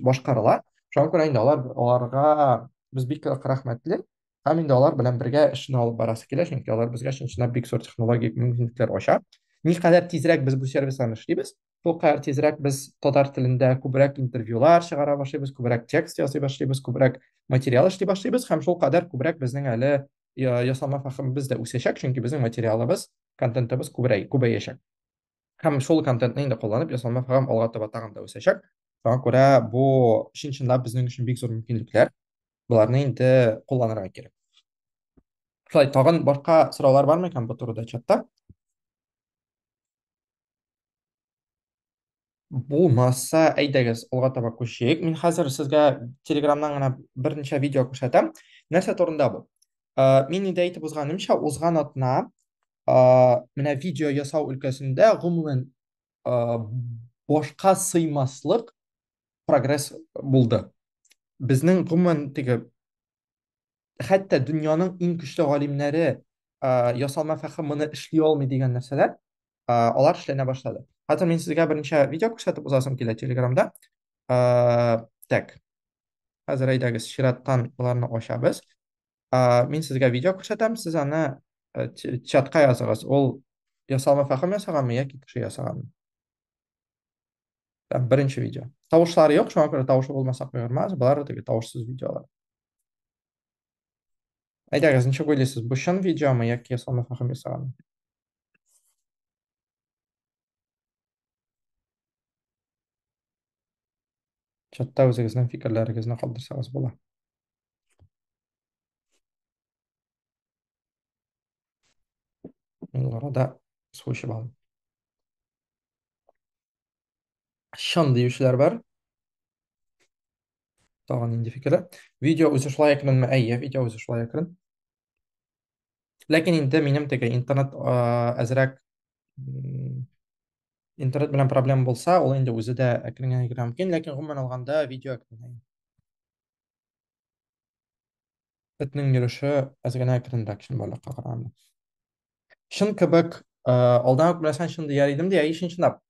башкарыла шуңа күрә инде алар аларга без бик рәхмәтле Һәм инде алар белән бергә эшне алып барасы килә, чөнки алар безгә чынчынлап бик зур технологик мөмкинлекләр ача. Никадәр тизрәк без бу сервисларны эшлибез, шул кадәр тизрәк без татар телендә күбрәк интервьюлар чыгара башлыйбыз, күбрәк текст ясый башлыйбыз, күбрәк материал эшли башлыйбыз һәм шул кадәр күбрәк безнең әле ясалма фәһемебез дә үсәчәк, чөнки безнең материалыбыз, контентыбыз күбрәй, күбәячәк. һәм шул контентны инде кулланып ясалма программ алга таба тагын да үсәчәк шуңа күрә бу чын чынлап безнең өчен бик зур мөмкинлекләр боларны инде кулланырга кирәк шулай тагын башка сораулар бармы икән бу турыда чатта булмаса әйдәгез алга таба күчик мин хәзер сезгә телеграмнан гына берничә видео күрсәтәм нәрсә турында бу Ә, мин инде әйтеп узганымча, узган атна ә, менә видео ясау өлкәсендә гомумән ә, башка сыймаслык прогресс булды. Безнең гомумән теге хәтта дөньяның иң көчле галимнәре ә, ясалма фәһем моны эшли алмый дигән нәрсәләр алар эшләнә башлады. Хәзер мин сезгә берничә видео күрсәтеп узасым килә Телеграмда. Так. Хәзер әйдәгез, чираттан боларны ачабыз. Мин сезгә видео күрсәтәм, сез аны э, чатка языгыз. Ул ясалма фәхим ясаганмы яки кеше ясаганмы? Там беренче видео. Тавышлары юк, шуңа күрә тавышы булмаса куермас. Болар теге тавышсыз видеолар. Әйдәгез, ничек уйлыйсыз, бу чын видеомы яки ясалма фәхим ясаганмы? чатта үзегезнең фикерләрегезне калдырсагыз була мин арада су эчеп алдым чын диючеләр бар тагын нинди фикерләр видео үзе шулай әкренме әйе видео үзе шулай әкрен Ләкин инде минем теге интернет әзрәк интернет белән проблема булса, ул инде үзе дә әкрен генә мөмкин, ләкин гомумән алганда видео әкренәй. Этнең йөреше әз генә әкренрәк чын балыкка караганда. Чын кебек, алдан ук беләсәң, чын дияр идем, дия, ишен чынлап.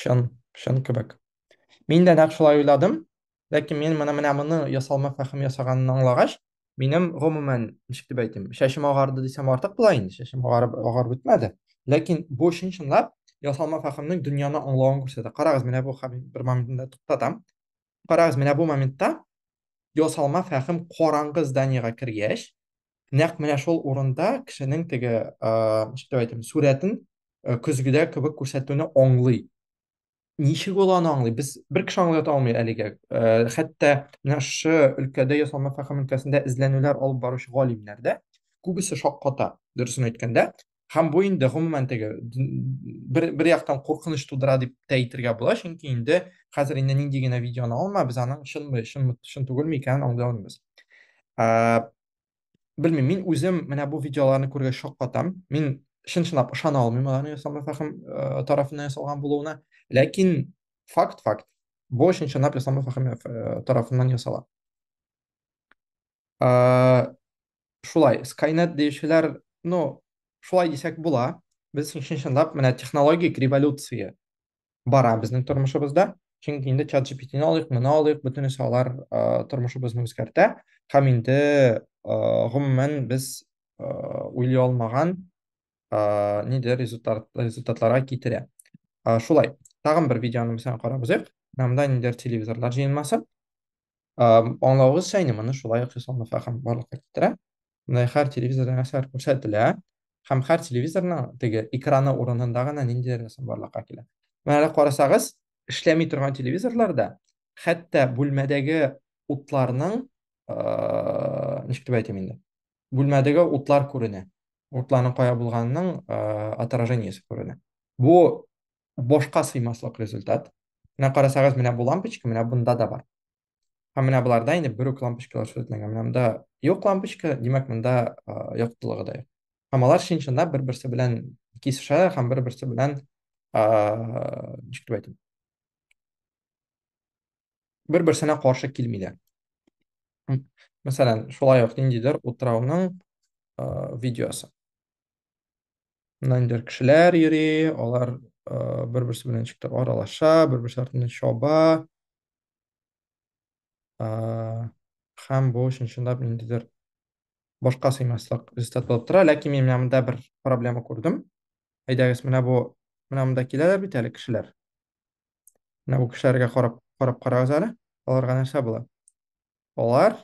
Чын, чын кебек. Мин дә нәкъ шулай уйладым. Ләкин мин моны менә моны ясалма фәхем ясаганын аңлагач, минем гомумән, ничек дип әйтим, шәшем агарды дисәм артык була инде, шәшем агарып агарып бетмәде. Ләкин бу чын-чынлап ясалма фәхемнең дөньяны аңлавын күрсәтә. Карагыз, менә бу хәл бер моментында туктатам. Карагыз, менә бу моментта ясалма фәһем караңгы зданиегә кергәч, нәкъ менә шул урында кешенең теге, ничек дип әйтим, сурәтен көзгедә кебек күрсәтүне аңлый. Ничек ул аны аңлый? Без бер кеше аңлата алмый әлегә. Хәтта менә шушы өлкәдә ясалма фәһем өлкәсендә эзләнүләр алып баручы галимнәр дә күбесе шакката, дөресен әйткәндә. һәм бу инде гомумән теге бер, бер яктан куркыныч тудыра дип тә әйтергә була чөнки инде хәзер инде нинди генә видеоны алма без аның чынмы чын, чын түгелме икәнен аңлый алмыйбыз ә, белмим мин үзем менә бу видеоларны күргәч шаккатам мин чын чынлап ышана алмыйм аларның ясалма фәхим ә, тарафыннан ясалган булуына ләкин факт факт бу чын чынлап ясалма фәхим тарафыннан ясала ә, Шулай, Skynet диючеләр, ну, шулай дисәк була. Без чын-чынлап менә технологик революция бара безнең тормышыбызда. Чөнки инде чат GPT-ны алыйк, моны алыйк, бөтенесе алар э, тормышыбызны үзгәртә. Һәм инде э, гомумән без э, уйлый алмаган э, нидер результат, результатларга китерә. Э, шулай, тагын бер видеоны без карап узыйк. Намда нидер телевизорлар җыенмасы. Аңлавыгызча, инде моны шулай ук Хисам Нафахам барлыкка китерә. Менә һәр телевизорда нәрсәләр күрсәтелә, һәм һәр телевизорның теге экраны урынында гына ниндидер нәрсә барлыкка килә. Менә әле карасагыз, эшләми торган телевизорларда хәтта бүлмәдәге утларның, ничек дип әйтим инде, бүлмәдәге утлар күренә. Утларның кая булганының отражениесе күренә. Бу башка сыймаслык результат. Менә карасагыз, менә бу лампочка, менә бунда да бар. Һәм менә боларда инде бер үк лампочкалар сүзләнгән. Менә монда юк лампочка, димәк, монда яктылыгы да юк. Һәм алар чын-чында бер-берсе белән кисешәләр һәм бер-берсе белән ничек дип әйтим? Бер-берсенә каршы килмиләр. Мәсәлән, шулай ук ниндидер утрауның видеосы. Нандер кешеләр йөри, алар бер-берсе белән ничектер аралаша, бер-берсе артыннан чаба. Һәм бу чынчынлап ниндидер башка сыймаслык результат булып тора, ләкин мин менә монда бер проблема күрдем. Әйдәгез, менә бу менә монда киләләр бит әле кешеләр. Менә бу кешеләргә карап карап карагыз әле. Аларга нәрсә була? Алар,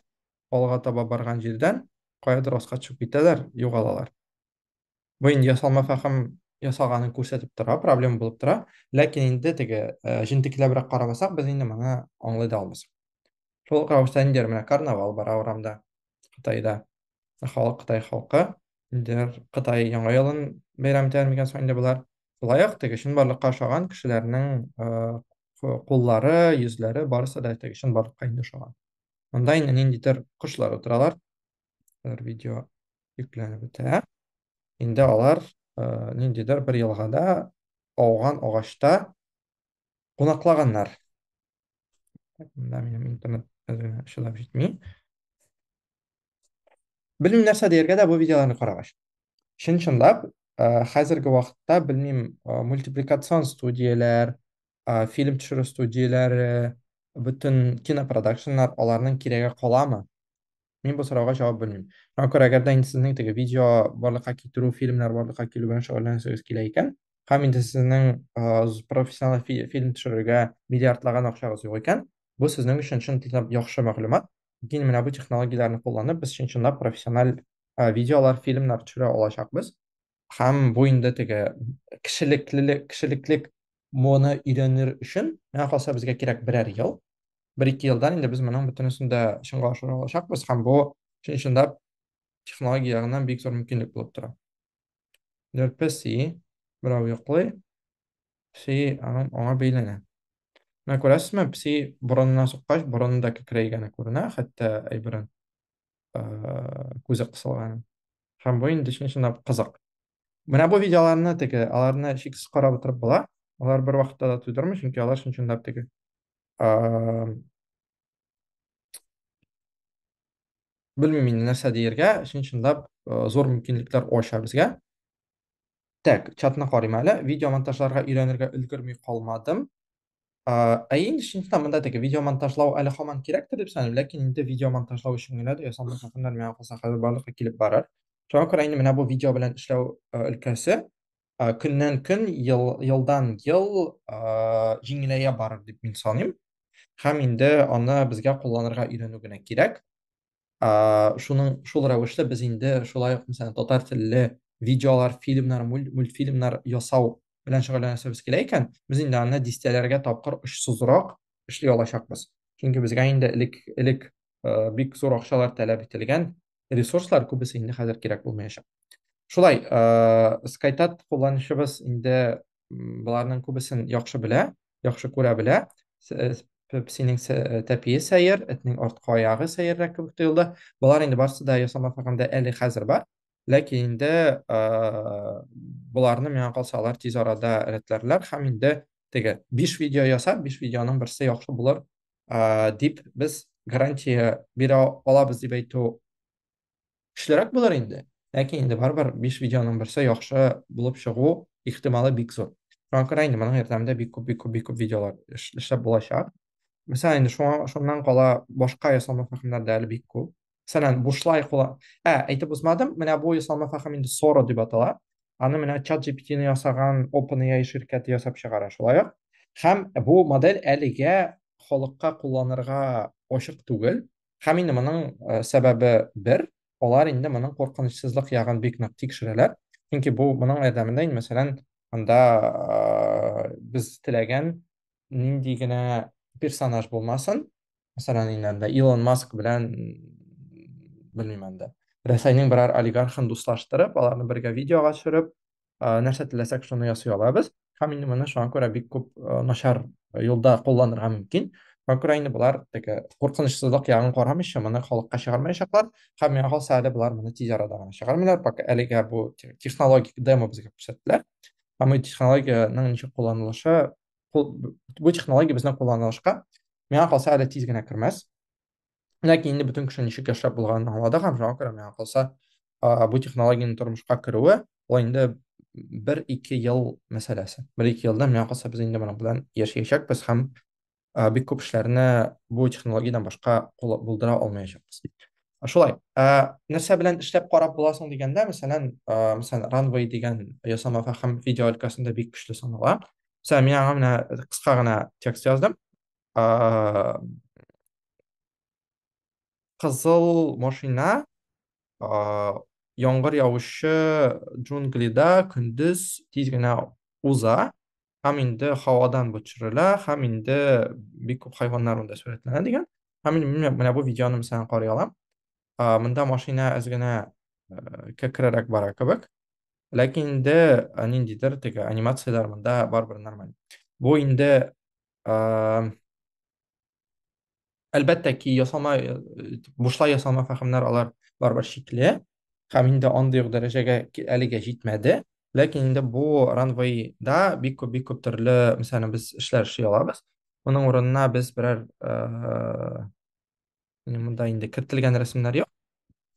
алга таба барган җирдән, каядыр аска төшеп китәләр, югалалар. Бу инде ясалма фәһем ясаганын күрсәтеп тора, проблема булып тора. Ләкин инде теге җентекләбрәк карамасак, без инде моны аңлый да алмыйсың. Шул ук рәвештә инде менә карнавал бара урамда, Кытайда. Ә халык Кытай халкы. Инде Кытай яңа елын бәйрәм итәләр микән соң инде болар? Шулай ук теге чынбарлыкка ошаган кешеләрнең куллары, йөзләре барысы да теге чынбарлыкка инде ошаган. Монда инде ниндидер кошлар утыралар. Алар видео йөкләнеп бетә. Инде алар ниндидер бер елгада ауган агачта кунаклаганнар. Монда минем интернет чыдап җитми. Белмим нәрсә дияргә дә бу видеоларны карагач. Чын чынлап, э, хәзерге вакытта белмим, э, мультипликацион студияләр, э, фильм төшерү студияләре, бөтен кинопродакшннар аларның кирәге каламы? Мин бу сорауга җавап белмим. Шуңа күрә, әгәр дә инде сезнең теге видео барлыкка китерү, фильмнар барлыкка килү белән шөгыльләнәсегез килә икән, һәм инде сезнең э, з- профессиональ фи- фильм төшерергә миллиардлаган акчагыз юк икән, бу сезнең өчен чын теләп яхшы мәгълүмат. киң менә бу технологияләрне кулланып, без чын-чынлап профессиональ э, видеолар, фильмнар төшерә алачакбыз. Һәм бу инде теге кешелеклелек, кешелеклек моны өйрәнер өчен, миңа калса безгә кирәк берәр ел. Бер-ике елдан инде без моның бөтенесен дә чынга ашыра алачакбыз һәм бу чын-чынлап технология ягыннан бик зур мөмкинлек булып тора. Ләр пәси, берау йоклый, пси аның аңа бәйләнә. Менә күрәсезме, пси борынына суккач, борыны да кекрәйгәне күренә, хәтта әйберен күзе кысылган. Һәм бу инде чын-чынлап кызык. Менә бу видеоларны теге, аларны шиксез карап утырып була. Алар бер вакытта да туйдырмый, чөнки алар чын-чынлап теге белмим инде нәрсә диергә чын чынлап э, зур мөмкинлекләр ача безгә так чатны карыйм әле видео монтажларга өйрәнергә өлгерми калмадым ә инде чын чынлап монда теге видео монтажлау әле һаман кирәктер дип саныйм ләкин инде видео монтажлау өчен генә дә ясалма хакымнар миңа калса хәзер барлыкка килеп барыр шуңа күрә инде менә бу видео белән эшләү э, өлкәсе көннән көн ел, елдан ел җиңеләя барыр дип мин саныйм һәм инде аны безгә кулланырга өйрәнү генә кирәк шуның шул рәвешле без инде шулай ук мәсәлән татар телле видеолар фильмнар мультфильмнар ясау белән шөгыльләнәсебез килә икән без инде аны дистәләргә тапкыр очсызрак эшли алачакбыз чөнки безгә инде элек элек бик зур акчалар таләп ителгән ресурслар күбесе инде хәзер кирәк булмаячак. Шулай, э, скайтат кулланучыбыз инде боларның күбесен яхшы белә, яхшы күрә белә. Э, псинең э, тәпие сәер, этнең арткы аягы сәеррәк кебек тоелды. Болар инде барысы да ясама фәргәндә әле хәзер бар. Ләкин инде боларны миңа калса алар тиз арада рәтләрләр һәм инде теге 5 видео ясап, 5 видеоның берсе яхшы булыр ә, дип без гарантия бирә алабыз дип әйтү көчлерәк булыр инде. Ләкин инде барыбер 5 видеоның берсе яхшы булып чыгу ихтималы бик зур. Шуңа күрә инде моның ярдәмендә бик күп бик күп бик күп видеолар эшләп булачак. Мәсәлән, инде шуңа шуннан кала башка ясалма фәһемнәр дә әле бик күп. Мәсәлән, бушлай кула. Ә, әйтеп узмадым, менә бу ясалма фахам инде Sora дип атала. Аны менә ChatGPT-ны ясаган OpenAI ширкәте ясап чыгара, шулай ук. Һәм бу модель әлегә халыкка кулланырга ачык түгел. Һәм инде моның э, сәбәбе бер, алар инде моның куркынычсызлык ягын бик нык тикшерәләр. Чөнки бу моның ярдәмендә инде, мәсәлән, анда э, без теләгән нинди генә персонаж булмасын, Мәсәлән, инде анда Илон Маск белән белмим анда. Рәсәйнең берәр олигархын дуслаштырып, аларны бергә видеога төшереп, э, нәрсә теләсәк шуны ясый алабыз. Һәм инде моны шуңа күрә бик күп э, начар юлда кулланырга мөмкин. Шуңа күрә инде болар теге куркынычсызлык ягын карамыйча моны халыкка чыгармаячаклар. Һәм миңа калса әле болар моны тиз арада гына чыгармыйлар, пока әлегә бу те- технологик демо безгә күрсәттеләр. Һәм бу технологиянең ничек кулланылышы бу технология безне кулланылышка миңа калса әле тиз генә кермәс ләкин инде бөтен кеше ничек яшәп булганын аңлады һәм шуңа күрә миңа калса бу технологиянең тормышка керүе ул инде бер ике ел мәсьәләсе бер ике елда миңа калса без инде моның белән яшәячәкбез һәм бик күп эшләрне бу технологиядән башка булдыра алмаячакбыз Шулай. Ә, нәрсә белән эшләп карап буласың дигәндә, мәсәлән, ә, мәсәлән, runway дигән ясама фәһем видео өлкәсендә бик көчле санала. Мәсәлән, мин аңа менә кыска гына текст яздым. Ә, кызыл машина ә, яңгыр явучы джунглида көндез тиз генә уза. һәм инде һавадан бу төшерелә һәм инде бик күп хайваннар монда сурәтләнә дигән һәм мин менә, менә бу видеоны мәсәлән карый алам ә, монда машина әз генә ә, кәкрерәк бара кебек ләкин инде ә, ниндидер теге анимацияләр монда барыбер нормаль бу инде ә, әлбәттә ки ясама э, бушлай ясама фәһемнәр алар барыбер шикле һәм инде андый ук дәрәҗәгә әлегә җитмәде ләкин инде бу ранвейда бик күп бик күп төрле мәсәлән без эшләр эшли алабыз моның урынына без берәр э, монда инде кертелгән рәсемнәр юк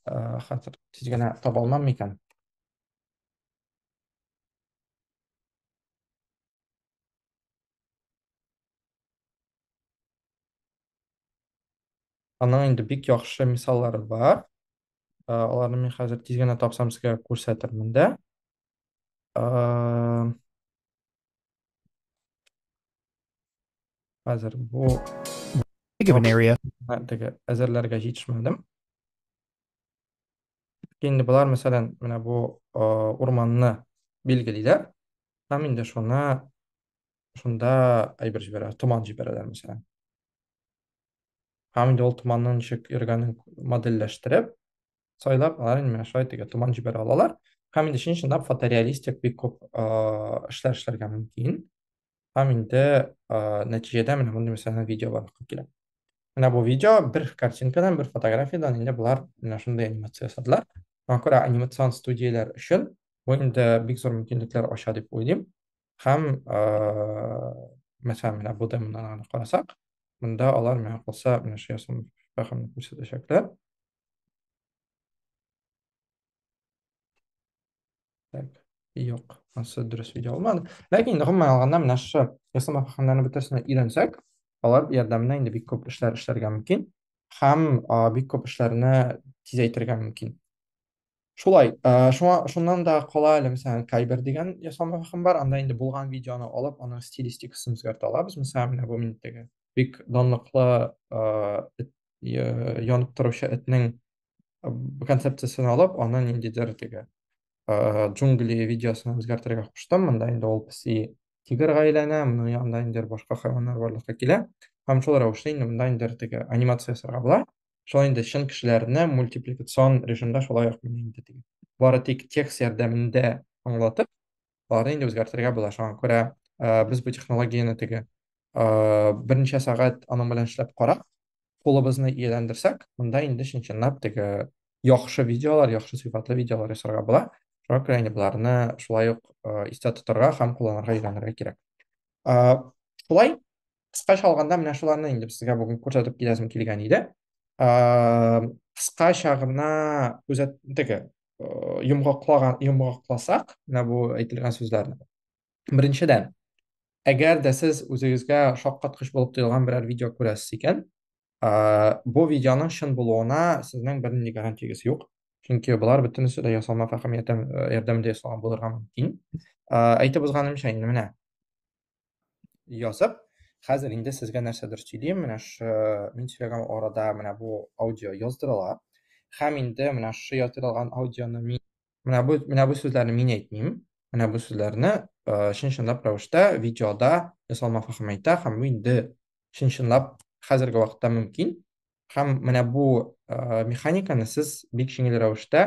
э, хәзер тиз генә таба алмам микән Аның инде бик яхшы мисаллары бар. Э, аларны мин хәзер тиз генә тапсам сезгә күрсәтермен дә. Э, хәзер бу теге әзерләргә җитешмәдем. Инде болар, мәсәлән, менә бу э, урманны билгелиләр. Һәм инде шуны шунда әйбер җибәрә, томан җибәрәләр мәсәлән. Һәм инде ул томанның ничек йөргәнен модельләштереп, сайлап, алар инде менә шулай теге томан җибәрә алалар. Һәм инде чын чынлап фотореалистик бик күп эшләр эшләргә мөмкин. Һәм инде нәтиҗәдә менә мондый мәсәлән видео барлыкка килә. Менә бу видео бер картинкадан, бер фотографиядән инде болар менә шундый анимация ясадылар. Шуңа күрә анимацион студияләр өчен бу инде бик зур мөмкинлекләр ача дип уйлыйм. һәм мәсәлән менә бу демодан гына карасак монда алар миңа калса менә шул ясалма фәһемне күрсәтәчәкләр так юк анысы дөрес видео алмады ләкин гомумән алганда менә шушы ясалма фәһемнәрне бөтенесенә өйрәнсәк алар ярдәмендә инде бик күп эшләр эшләргә мөмкин һәм бик күп эшләрне тизәйтергә мөмкин Шулай, ә, шуңа, шуннан да кала әле, мәсәлән, Кайбер дигән ясалма фәһем бар, анда инде булган видеоны алып, аның стилистикасын үзгәртә алабыз. Мәсәлән, менә бу миндәге бик данлыклы ә, эт, я- янып торучы этнең ә, концепциясен алып, аны ниндидер теге ә, джунгли видеосына үзгәртергә куштым. Монда инде ул песи тигрга әйләнә, моның янында инде башка хайваннар барлыкка килә. Һәм шул рәвешле инде монда инде теге анимация ясарга була. Шулай инде чын кешеләрне мультипликацион режимда шулай ук менә инде теге. Бары тик текст ярдәмендә аңлатып, аларны инде үзгәртергә була. Шуңа күрә э, без бу технологияне теге э, берничә сәгать аның белән эшләп карап, кулыбызны ияләндерсәк, монда инде чын-чынлап теге яхшы видеолар, яхшы сыйфатлы видеолар ясарга була. Шуңа күрә инде боларны шулай ук э, истә тотарга һәм кулланырга өйрәнергә кирәк. Э, Шулай кыскача алганда менә шуларны инде сезгә бүген күрсәтеп киләсем килгән иде кыскача гына күзәт теге йомгаклаган йомгакласак менә бу әйтелгән сүзләрне беренчедән әгәр дә сез үзегезгә шаккаткыч булып тоелган берәр видео күрәсез икән бу видеоның чын булуына сезнең бернинди гарантиягез юк чөнки болар бөтенесе дә ясалма фәһем ярдәмендә ясалган булырга мөмкин әйтеп узганымча инде менә язып, хәзер инде сезгә нәрсәдер сөйлим, менә шы, мин сөйләгән арада менә бу аудио яздырыла. Хәм инде менә шы яздырылган аудионы мин менә бу менә бу сүзләрне мин әйтмим. Менә бу сүзләрне э, чын-чынлап рәвештә видеода ясалма фахим әйтә һәм бу инде чын-чынлап хәзерге вакытта мөмкин. Һәм менә бу э, механиканы сез бик җиңел рәвештә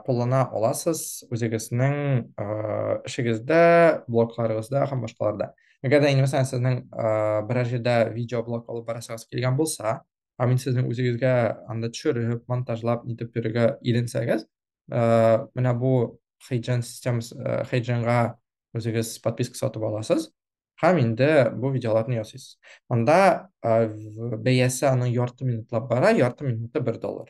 куллана аласыз үзегезнең эшегездә, блокларыгызда һәм башкаларда. Әгәр дә инде мәсәлән сезнең берәр җирдә видеоблог алып барасыгыз килгән булса, һәм инде сезнең үзегезгә анда төшереп, монтажлап, нитеп йөрергә иренсәгез, менә бу Хейджен системасы, Хейдженга үзегез подписка сатып аласыз һәм инде бу видеоларны ясыйсыз. Анда бәясе аның ярты минутлап бара, ярты минуты бер доллар.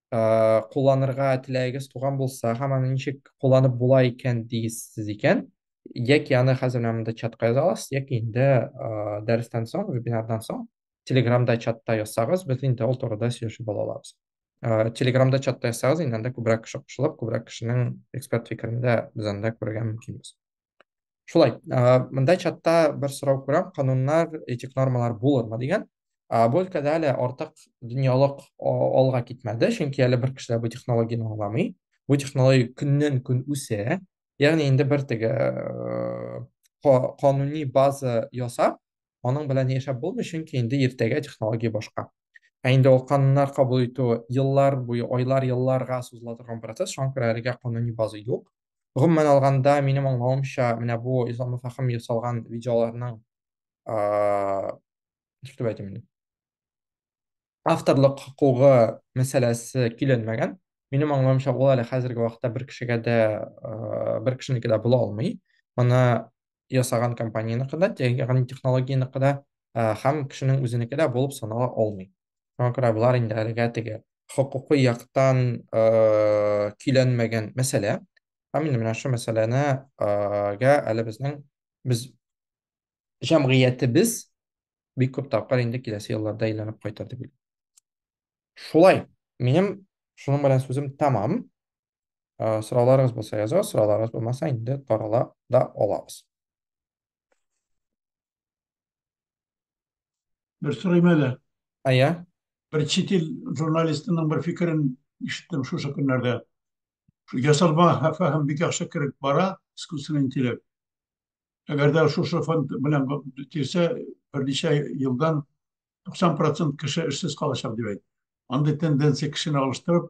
ә, кулланырга теләгегез туган булса һәм аны ничек кулланып була икән дисез икән яки аны хәзер менә монда чатка яза аласыз яки инде ә, дәрестән соң вебинардан соң телеграмда чатта язсагыз без инде ул турыда сөйләшеп ала алабыз ә, телеграмда чатта язсагыз инде анда күбрәк кеше кушылып күбрәк кешенең эксперт фикерен дә без анда күрергә мөмкинбез шулай мындай чатта бер сорау күрәм кануннар этик нормалар булырмы дигән бу өлкәдә әле артык дөньялык алга китмәде чөнки әле бер кеше дә бу технологияне аңламый бу технология көннән көн үсә ягъни инде бер теге кануни база ясап аның белән яшәп булмый чөнки инде иртәгә технология башка ә инде ул кануннар кабул итү еллар буе айлар елларга сузыла торган процесс шуңа күрә әлегә кануни база юк Гомумән алганда, минем аңлавымча, менә бу исламлы фәһем ясалган видеоларның ничектеп әйтим инде? Авторлык хокукы мәсьәләсе киленмәгән. Минем аңлавымча, ул әле хәзерге вакытта бер кешегә дә, бер кешенеке дә була алмый. Моны ясаган компаниянеке дә, ягъни технологиянеке дә һәм кешенең үзенеке дә булып санала алмый. Шуңа күрә болар инде әлегә теге хокукый яктан көйләнмәгән мәсьәлә. Һәм инде менә шул мәсьәләне гә әле безнең без җәмгыятебез бик күп тапкыр инде киләсе елларда әйләнеп кайтыр дип уйлыйм. Шулай, минем шуның белән сүзем тәмам. Ә, сорауларыгыз булса языгыз, сорауларыгыз булмаса инде тарала да алабыз. Бер сорыйм әле. Әйе. Бер чит ил журналистының бер фикерен ишеттем шушы көннәрдә. Шу Ясалма фәһем бик яхшы кереп бара, искусственный интеллект. Әгәр дә шушы фонд белән бетерсә, берничә елдан 90% кеше эшсез калачак дип әйтте. Андый тенденция кешене алыштырып,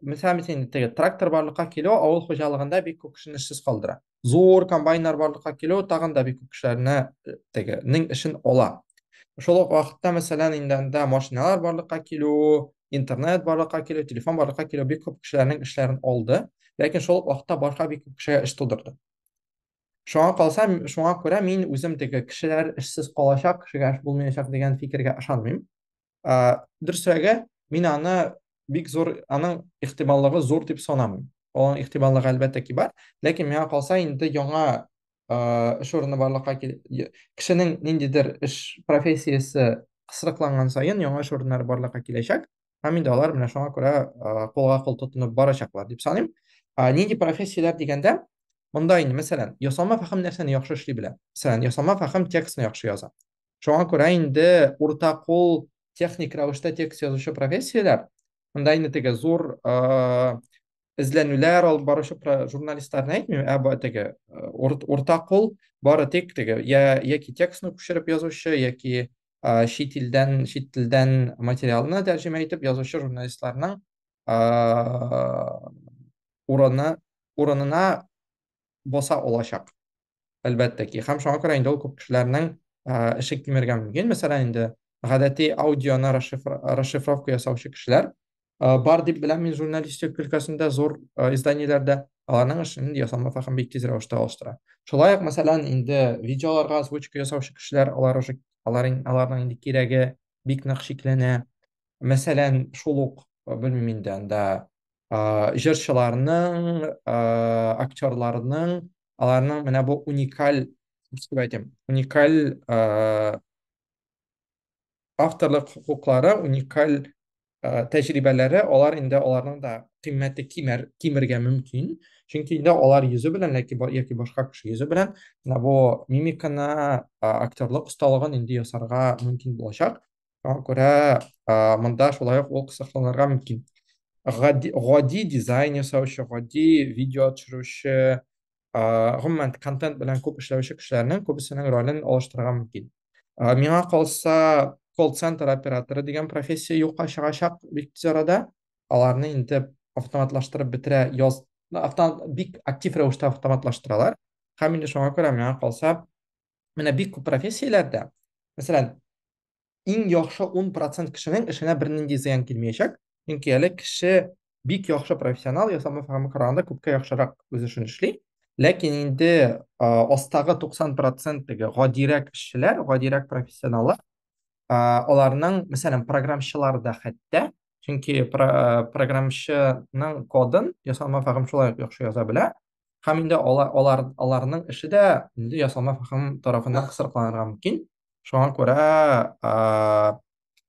мисал мисен теге трактор барлыкка килү авыл хуҗалыгында бик күп кешене эшсез калдыра зур комбайннар барлыкка килү тагын да бик күп кешеләрне э, теге нең эшен ала шул ук вакытта мәсәлән инде анда машиналар барлыкка килү интернет барлыкка килү телефон барлыкка килү бик күп кешеләрнең эшләрен алды ләкин шул ук вакытта башка бик күп кешегә эш тудырды шуңа калса шуңа күрә мин үзем теге кешеләр эшсез калачак кешегә эш булмаячак дигән фикергә ышанмыйм Дөресрәге, мин аны бик зур, аның ихтималлыгы зур дип санамыйм. Аның ихтималлыгы әлбәттә ки бар, ләкин миңа калса инде яңа эш урыны барлыкка кил... кешенең ниндидер эш профессиясе кысрыкланган саен яңа эш урыннары барлыкка киләчәк, һәм инде алар менә шуңа күрә кулга-кул тотынып барачаклар дип саныйм. Нинди профессияләр дигәндә, монда инде, мәсәлән, ясалма фәһем нәрсәне яхшы эшли белә? Мәсәлән, ясалма фәһем текстны яхшы яза. шуңа күрә инде урта кул техник рәвештә текст язучы профессияләр монда инде теге зур эзләнүләр алып баручы журналистларны әйтмим ә теге урта кул бары тик теге я яки текстны күчереп язучы яки чит илдән чит телдән материалны тәрҗемә итеп язучы журналистларның урыны урынына боса олачак әлбәттә ки. Һәм шуңа күрә инде ул күп кешеләрнең ишек кимергә мөмкин. Мәсәлән, инде гадәти аудионы расшифровка ясаучы кешеләр бар дип беләм мин журналистик өлкәсендә зур изданиеләрдә аларның эшен ясалма фәһем бик тиз рәвештә алыштыра. Шулай ук, мәсәлән, инде видеоларга озвучка ясаучы кешеләр, алар уже аларның инде кирәге бик нык чикләнә. Мәсәлән, шул ук, белмим инде анда, җырчыларның, актерларның аларның менә бу уникаль дип әйтәм уникаль ә, авторлык хокуклары уникаль ә, тәҗрибәләре алар инде аларның да кыйммәте кимер кимергә мөмкин чөнки инде алар йөзе белән яки, яки башка кеше йөзе белән менә бу мимиканы ә, актерлык осталыгын инде ясарга мөмкин булачак Шуңа күрә ә, монда шулай ук ул кысакланырга мөмкин. Гади, гади дизайн ясаучы, гади видео төшерүче, ә, гомумән контент белән күп эшләүче кешеләрнең күбесенең ролен алыштырырга мөмкин. Ә, миңа калса, колл-центр операторы дигән профессия юкка чыгачак бик тиз арада. Аларны инде автоматлаштырып бетерә яз, автомат, бик актив рәвештә автоматлаштыралар. Һәм инде шуңа күрә миңа калса, менә бик күп профессияләрдә мәсәлән иң яхшы 10 процент кешенең эшенә бернинди зыян килмәячәк чөнки әле кеше бик яхшы профессионал ясалма форма караганда күпкә яхшырак үз эшен эшли ләкин инде астагы 90 проценттәге гадирәк эшчеләр гадирәк профессионаллар аларның мәсәлән программчылар да хәтта чөнки программчының кодын ясалма форма шулай ук яхшы яза белә һәм инде алар, алар, аларның эше дә инде ясалма фәһем тарафыннан кысрыкланырга мөмкин. Шуңа күрә ә,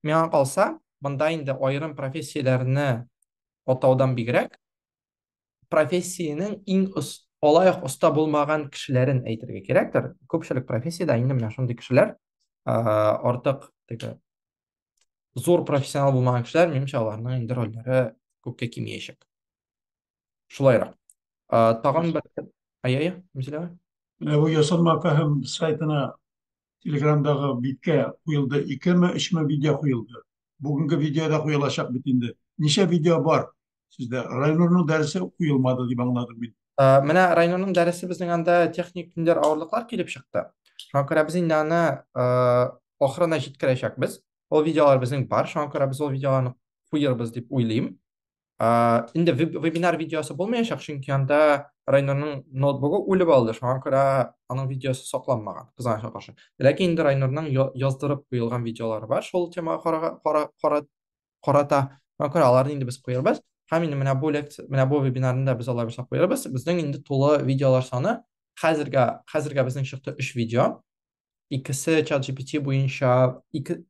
миңа калса, монда инде аерым профессияләрне атаудан бигрәк, профессиянең иң ос, алаяк оста булмаган кешеләрен әйтергә кирәктер. Күпчелек профессиядә инде менә шундый кешеләр ә, артык теге зур профессионал булмаган кешеләр, минемчә, аларның инде рольләре күпкә кимиячәк. шулайрак тагын бер әйе әйе мизилә бу ясалма фәһем сайтына телеграмдагы биткә куелды икеме өчме видео куелды бүгенге видеода куелачак бит инде ничә видео бар сездә райнурның дәресе куелмады дип аңладым мин менә райнурның дәресе безнең анда техник көндәр авырлыклар килеп чыкты шуңа күрә без инде аны ахырына җиткерәчәкбез ул видеолар безнең бар шуңа күрә без ул видеоларны куербыз дип уйлыйм Инде вебинар видеосы булмаячак, чөнки анда Райнурның ноутбугы үлеп алды, шуңа күрә аның видеосы сакланмаган, кызганычка каршы. Ләкин инде Райнурның яздырып куелган видеолары бар шул темага карата, шуңа күрә аларны инде без куербыз. Һәм инде менә бу лекция, менә бу вебинарны да без алай булса куербыз. Безнең инде тулы видеолар саны хәзергә, хәзергә безнең чыкты өч видео. икесе чат GPT буенча ике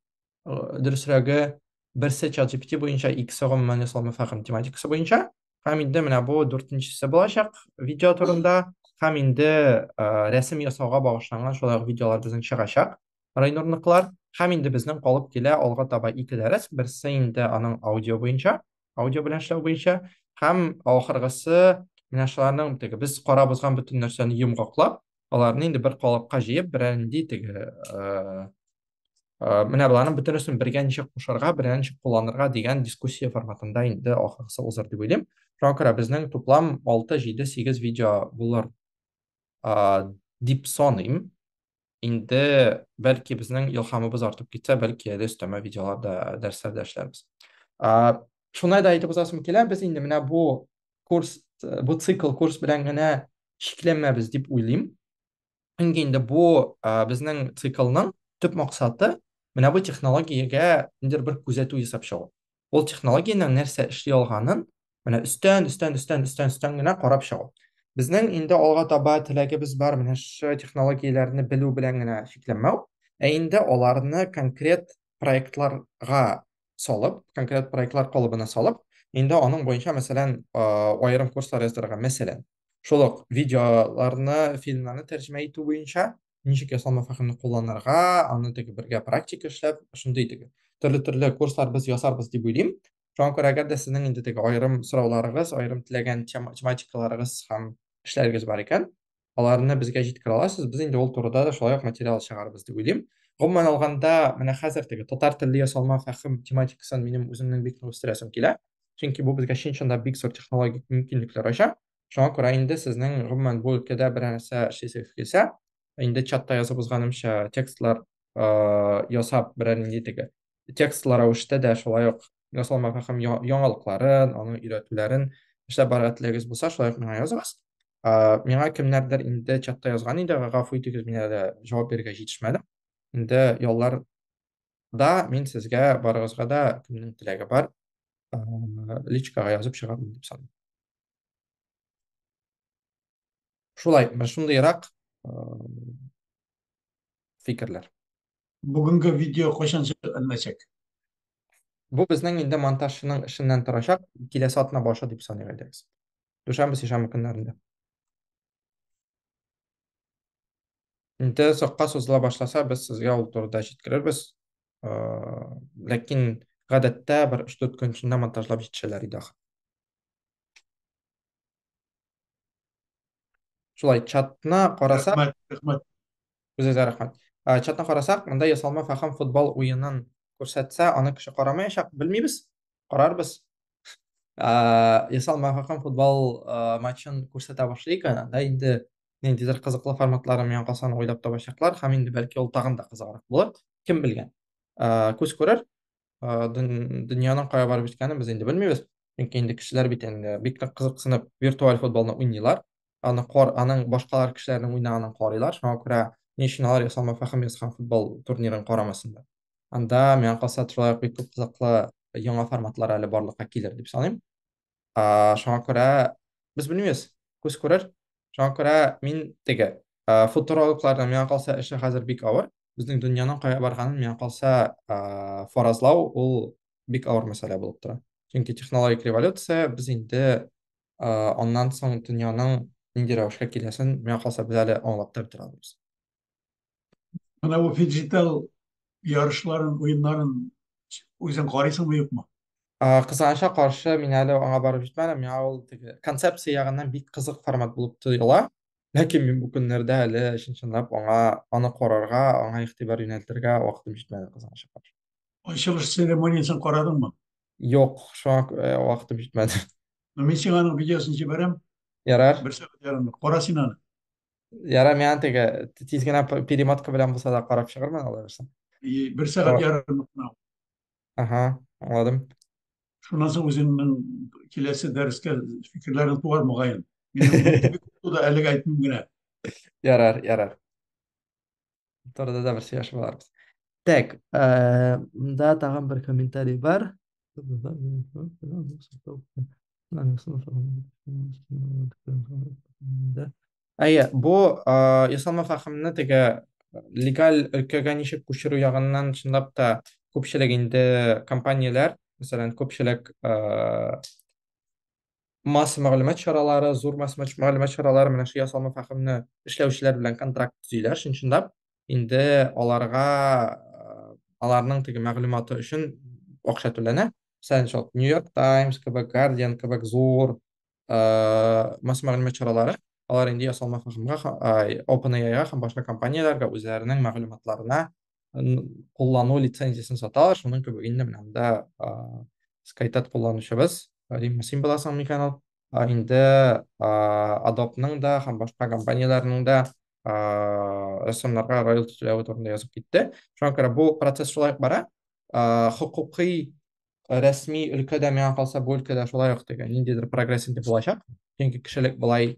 дөресрәге берсе чат GPT буенча икесе гомумән ясалма фәһем тематикасы буенча һәм инде менә бу дүртенчесе булачак видео турында һәм инде рәсем ясауга багышланган шулай ук видеолар безнең чыгачак райнурныклар һәм инде безнең калып килә алга таба ике дәрес берсе инде аның аудио буенча аудио белән эшләү буенча һәм ахыргысы менә шуларның теге без карап узган бөтен нәрсәне йомгаклап аларны инде бер калыпка җыеп берәр нинди теге менә боларның бөтенесен бергә ничек кушарга бергә ничек кулланырга дигән дискуссия форматында инде ахыргысы узыр дип уйлыйм шуңа күрә безнең туплам алты җиде сигез видео булыр дип саныйм инде бәлки безнең илһамыбыз артып китсә, бәлки әле өстәмә видеоларда, дәресләрдә эшләрбез. Шуны да әйтеп узасым килә, без инде менә бу курс, бу цикл курс белән генә чикләнмәбез дип уйлыйм. Чөнки инде бу безнең циклның төп максаты менә бу технологиягә ниндидер бер күзәтү ясап чыгу. Ул технологиянең нәрсә эшли алганын менә өстән, өстән, өстән, өстән, өстән генә карап чыгу. Безнең инде алга таба теләгебез бар, менә шушы технологияләрне белү белән генә чикләнмәү, ә инде аларны конкрет проектларга салып, конкрет проектлар калыбына салып, инде аның буенча, мәсәлән, аерым курслар яздырырга, мәсәлән, шул ук видеоларны, фильмнарны тәрҗемә итү буенча, ничек ясалма фәһемне кулланырга, аны теге бергә практика эшләп, шундый теге төрле-төрле курслар без ясарбыз дип уйлыйм. Шуңа күрә әгәр дә сезнең инде теге аерым сорауларыгыз, аерым теләгән тематикаларыгыз һәм эшләрегез бар икән, аларны безгә җиткерә аласыз. Без инде ул турыда да шулай ук материал чыгарбыз дип уйлыйм. Гомумән алганда, менә хәзер теге татар телле ясалма фәһем тематикасын минем үземнең бик нык үстерәсем килә. Чөнки бу безгә чын-чынлап бик зур технологик мөмкинлекләр ача. Шуңа күрә инде сезнең гомумән бу өлкәдә берәр нәрсә эшлисегез килсә, инде чатта язып узганымча, текстлар ясап берәр нинди теге текстлар рәвештә дә шулай ук ясалма фәһем яңалыкларын, аның өйрәтүләрен эшләп барырга теләгегез булса, шулай ук миңа языгыз. Миңа кемнәрдер инде чатта язган иде, гафу итегез, мин әле җавап бирергә җитешмәдем. Инде яллар да мин сезгә барыгызга да кемнең теләге бар, личкага язып чыгармын дип саныйм. шулай шундыйрак фикерләр бүгенге видео кайчан җирләнәчәк бу безнең инде монтажчының эшеннән торачак киләсе атна башы дип саныйк инде без дүшәмбе сишәмбе көннәрендә инде озакка сузыла башласа без сезгә ул турыда җиткерербез ләкин гадәттә бер өч дүрт көн эчендә монтажлап җитешәләр иде ахыр Шулай, чатна карасак... Рәхмәт, рәхмәт. Үзегезгә рәхмәт. Ә, Чатна карасак, монда ясалма фәхам футбол уенын күрсәтсә, аны кеше карамаячак, белмибез, карарбыз. Ә, Ясалма фәхам футбол а, матчын күрсәтә башлыйк, анда инде ниндидер кызыклы форматлары миңа калса аны уйлап табачаклар, һәм инде бәлки ул тагын да кызыграк булыр, кем белгән. Ә, Күз күрер, дөньяның кая барып җиткәнен без инде белмибез. Чөнки инде кешеләр бит инде бик нык кызыксынып виртуаль футболны уйныйлар. Аны кор, аның башкалар кешеләрнең уйнаганын карыйлар. Шуңа күрә ни өчен алар ясалма фәһем ясаган футбол турнирын карамасын да. Анда миңа калса шулай ук бик күп кызыклы яңа форматлар әле барлыкка килер дип саныйм. Ә, шуңа күрә без белмибез, күз күрер. Шуңа күрә мин теге ә, футурологларның миңа калса эше хәзер бик авыр. Безнең дөньяның кая барганын миңа калса ә, фаразлау ул бик авыр мәсьәлә булып тора. Чөнки технологик революция без инде ә, аннан соң дөньяның нинди рәвешкә киләсен миңа калса без әле аңлап та бетерә алмыйбыз. Менә бу фиджитал ярышларын, уеннарын үзең карыйсыңмы юкмы? Кызганычка каршы, мин әле аңа барып җитмәдем. Миңа ул теге концепция ягыннан бик кызык формат булып тоела. Ләкин мин бу көннәрдә әле чын-чынлап аңа аны карарга, аңа игътибар юнәлтергә вакытым җитмәде, кызганычка каршы. Ачылыш церемониясен карадыңмы? Юк, шуңа вакытым җитмәде. Мин сиңа аның видеосын җибәрәм. Ярар. Бер сәгать ярымлык. Кара син аны. Ярар, миңа теге тиз генә п- перемотка белән булса да карап чыгармын алай булса. И, бер сәгать Ага. ярымлык мынау. Ага, аңладым. Шуннан соң үзеңнең киләсе дәрескә фикерләрең туар мөгаен. Минем бик күп туды, әлегә әйтмим генә. Ярар, ярар. Торда да бер сөйләшеп аларбыз. Так, мында тагын бер комментарий бар. Әйе, бу ясалма фахымны теге легаль өлкәгә ничек күчерү ягыннан чынлап та күпчелек инде компанияләр, мәсәлән, күпчелек масса мәгълүмат чаралары, зур масса мәгълүмат чаралары менә шул ясалма фәһемне эшләүчеләр белән контракт төзиләр, чынчынлап. Инде аларга э, аларның теге мәгълүматы өчен акча түләнә. Мәсәлән, шул Нью-Йорк Таймс кебек, Guardian кебек зур э, масса мәгълүмат чаралары алар инде ясалма фәһемгә, OpenAI-га һәм башка компанияләргә үзләренең мәгълүматларына куллану лицензиясен сата ала шуның кебек инде менә монда скайтат кулланучыбыз римма син буласың микән ул инде адопның да һәм башка компанияләрнең дә рәссамнарга роялти түләве турында язып китте шуңа күрә бу процесс шулай бара хокукый рәсми өлкәдә миңа калса бу өлкәдә шулай ук теге ниндидер прогресс инде булачак чөнки кешелек болай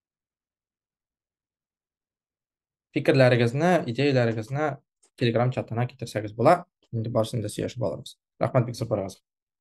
Фикерләрегезне, идеяләрегезне Telegram чатына китерсәгез була. Инде барсын да сөйләшеп алырбыз. Рәхмәт бик зур барыгызга.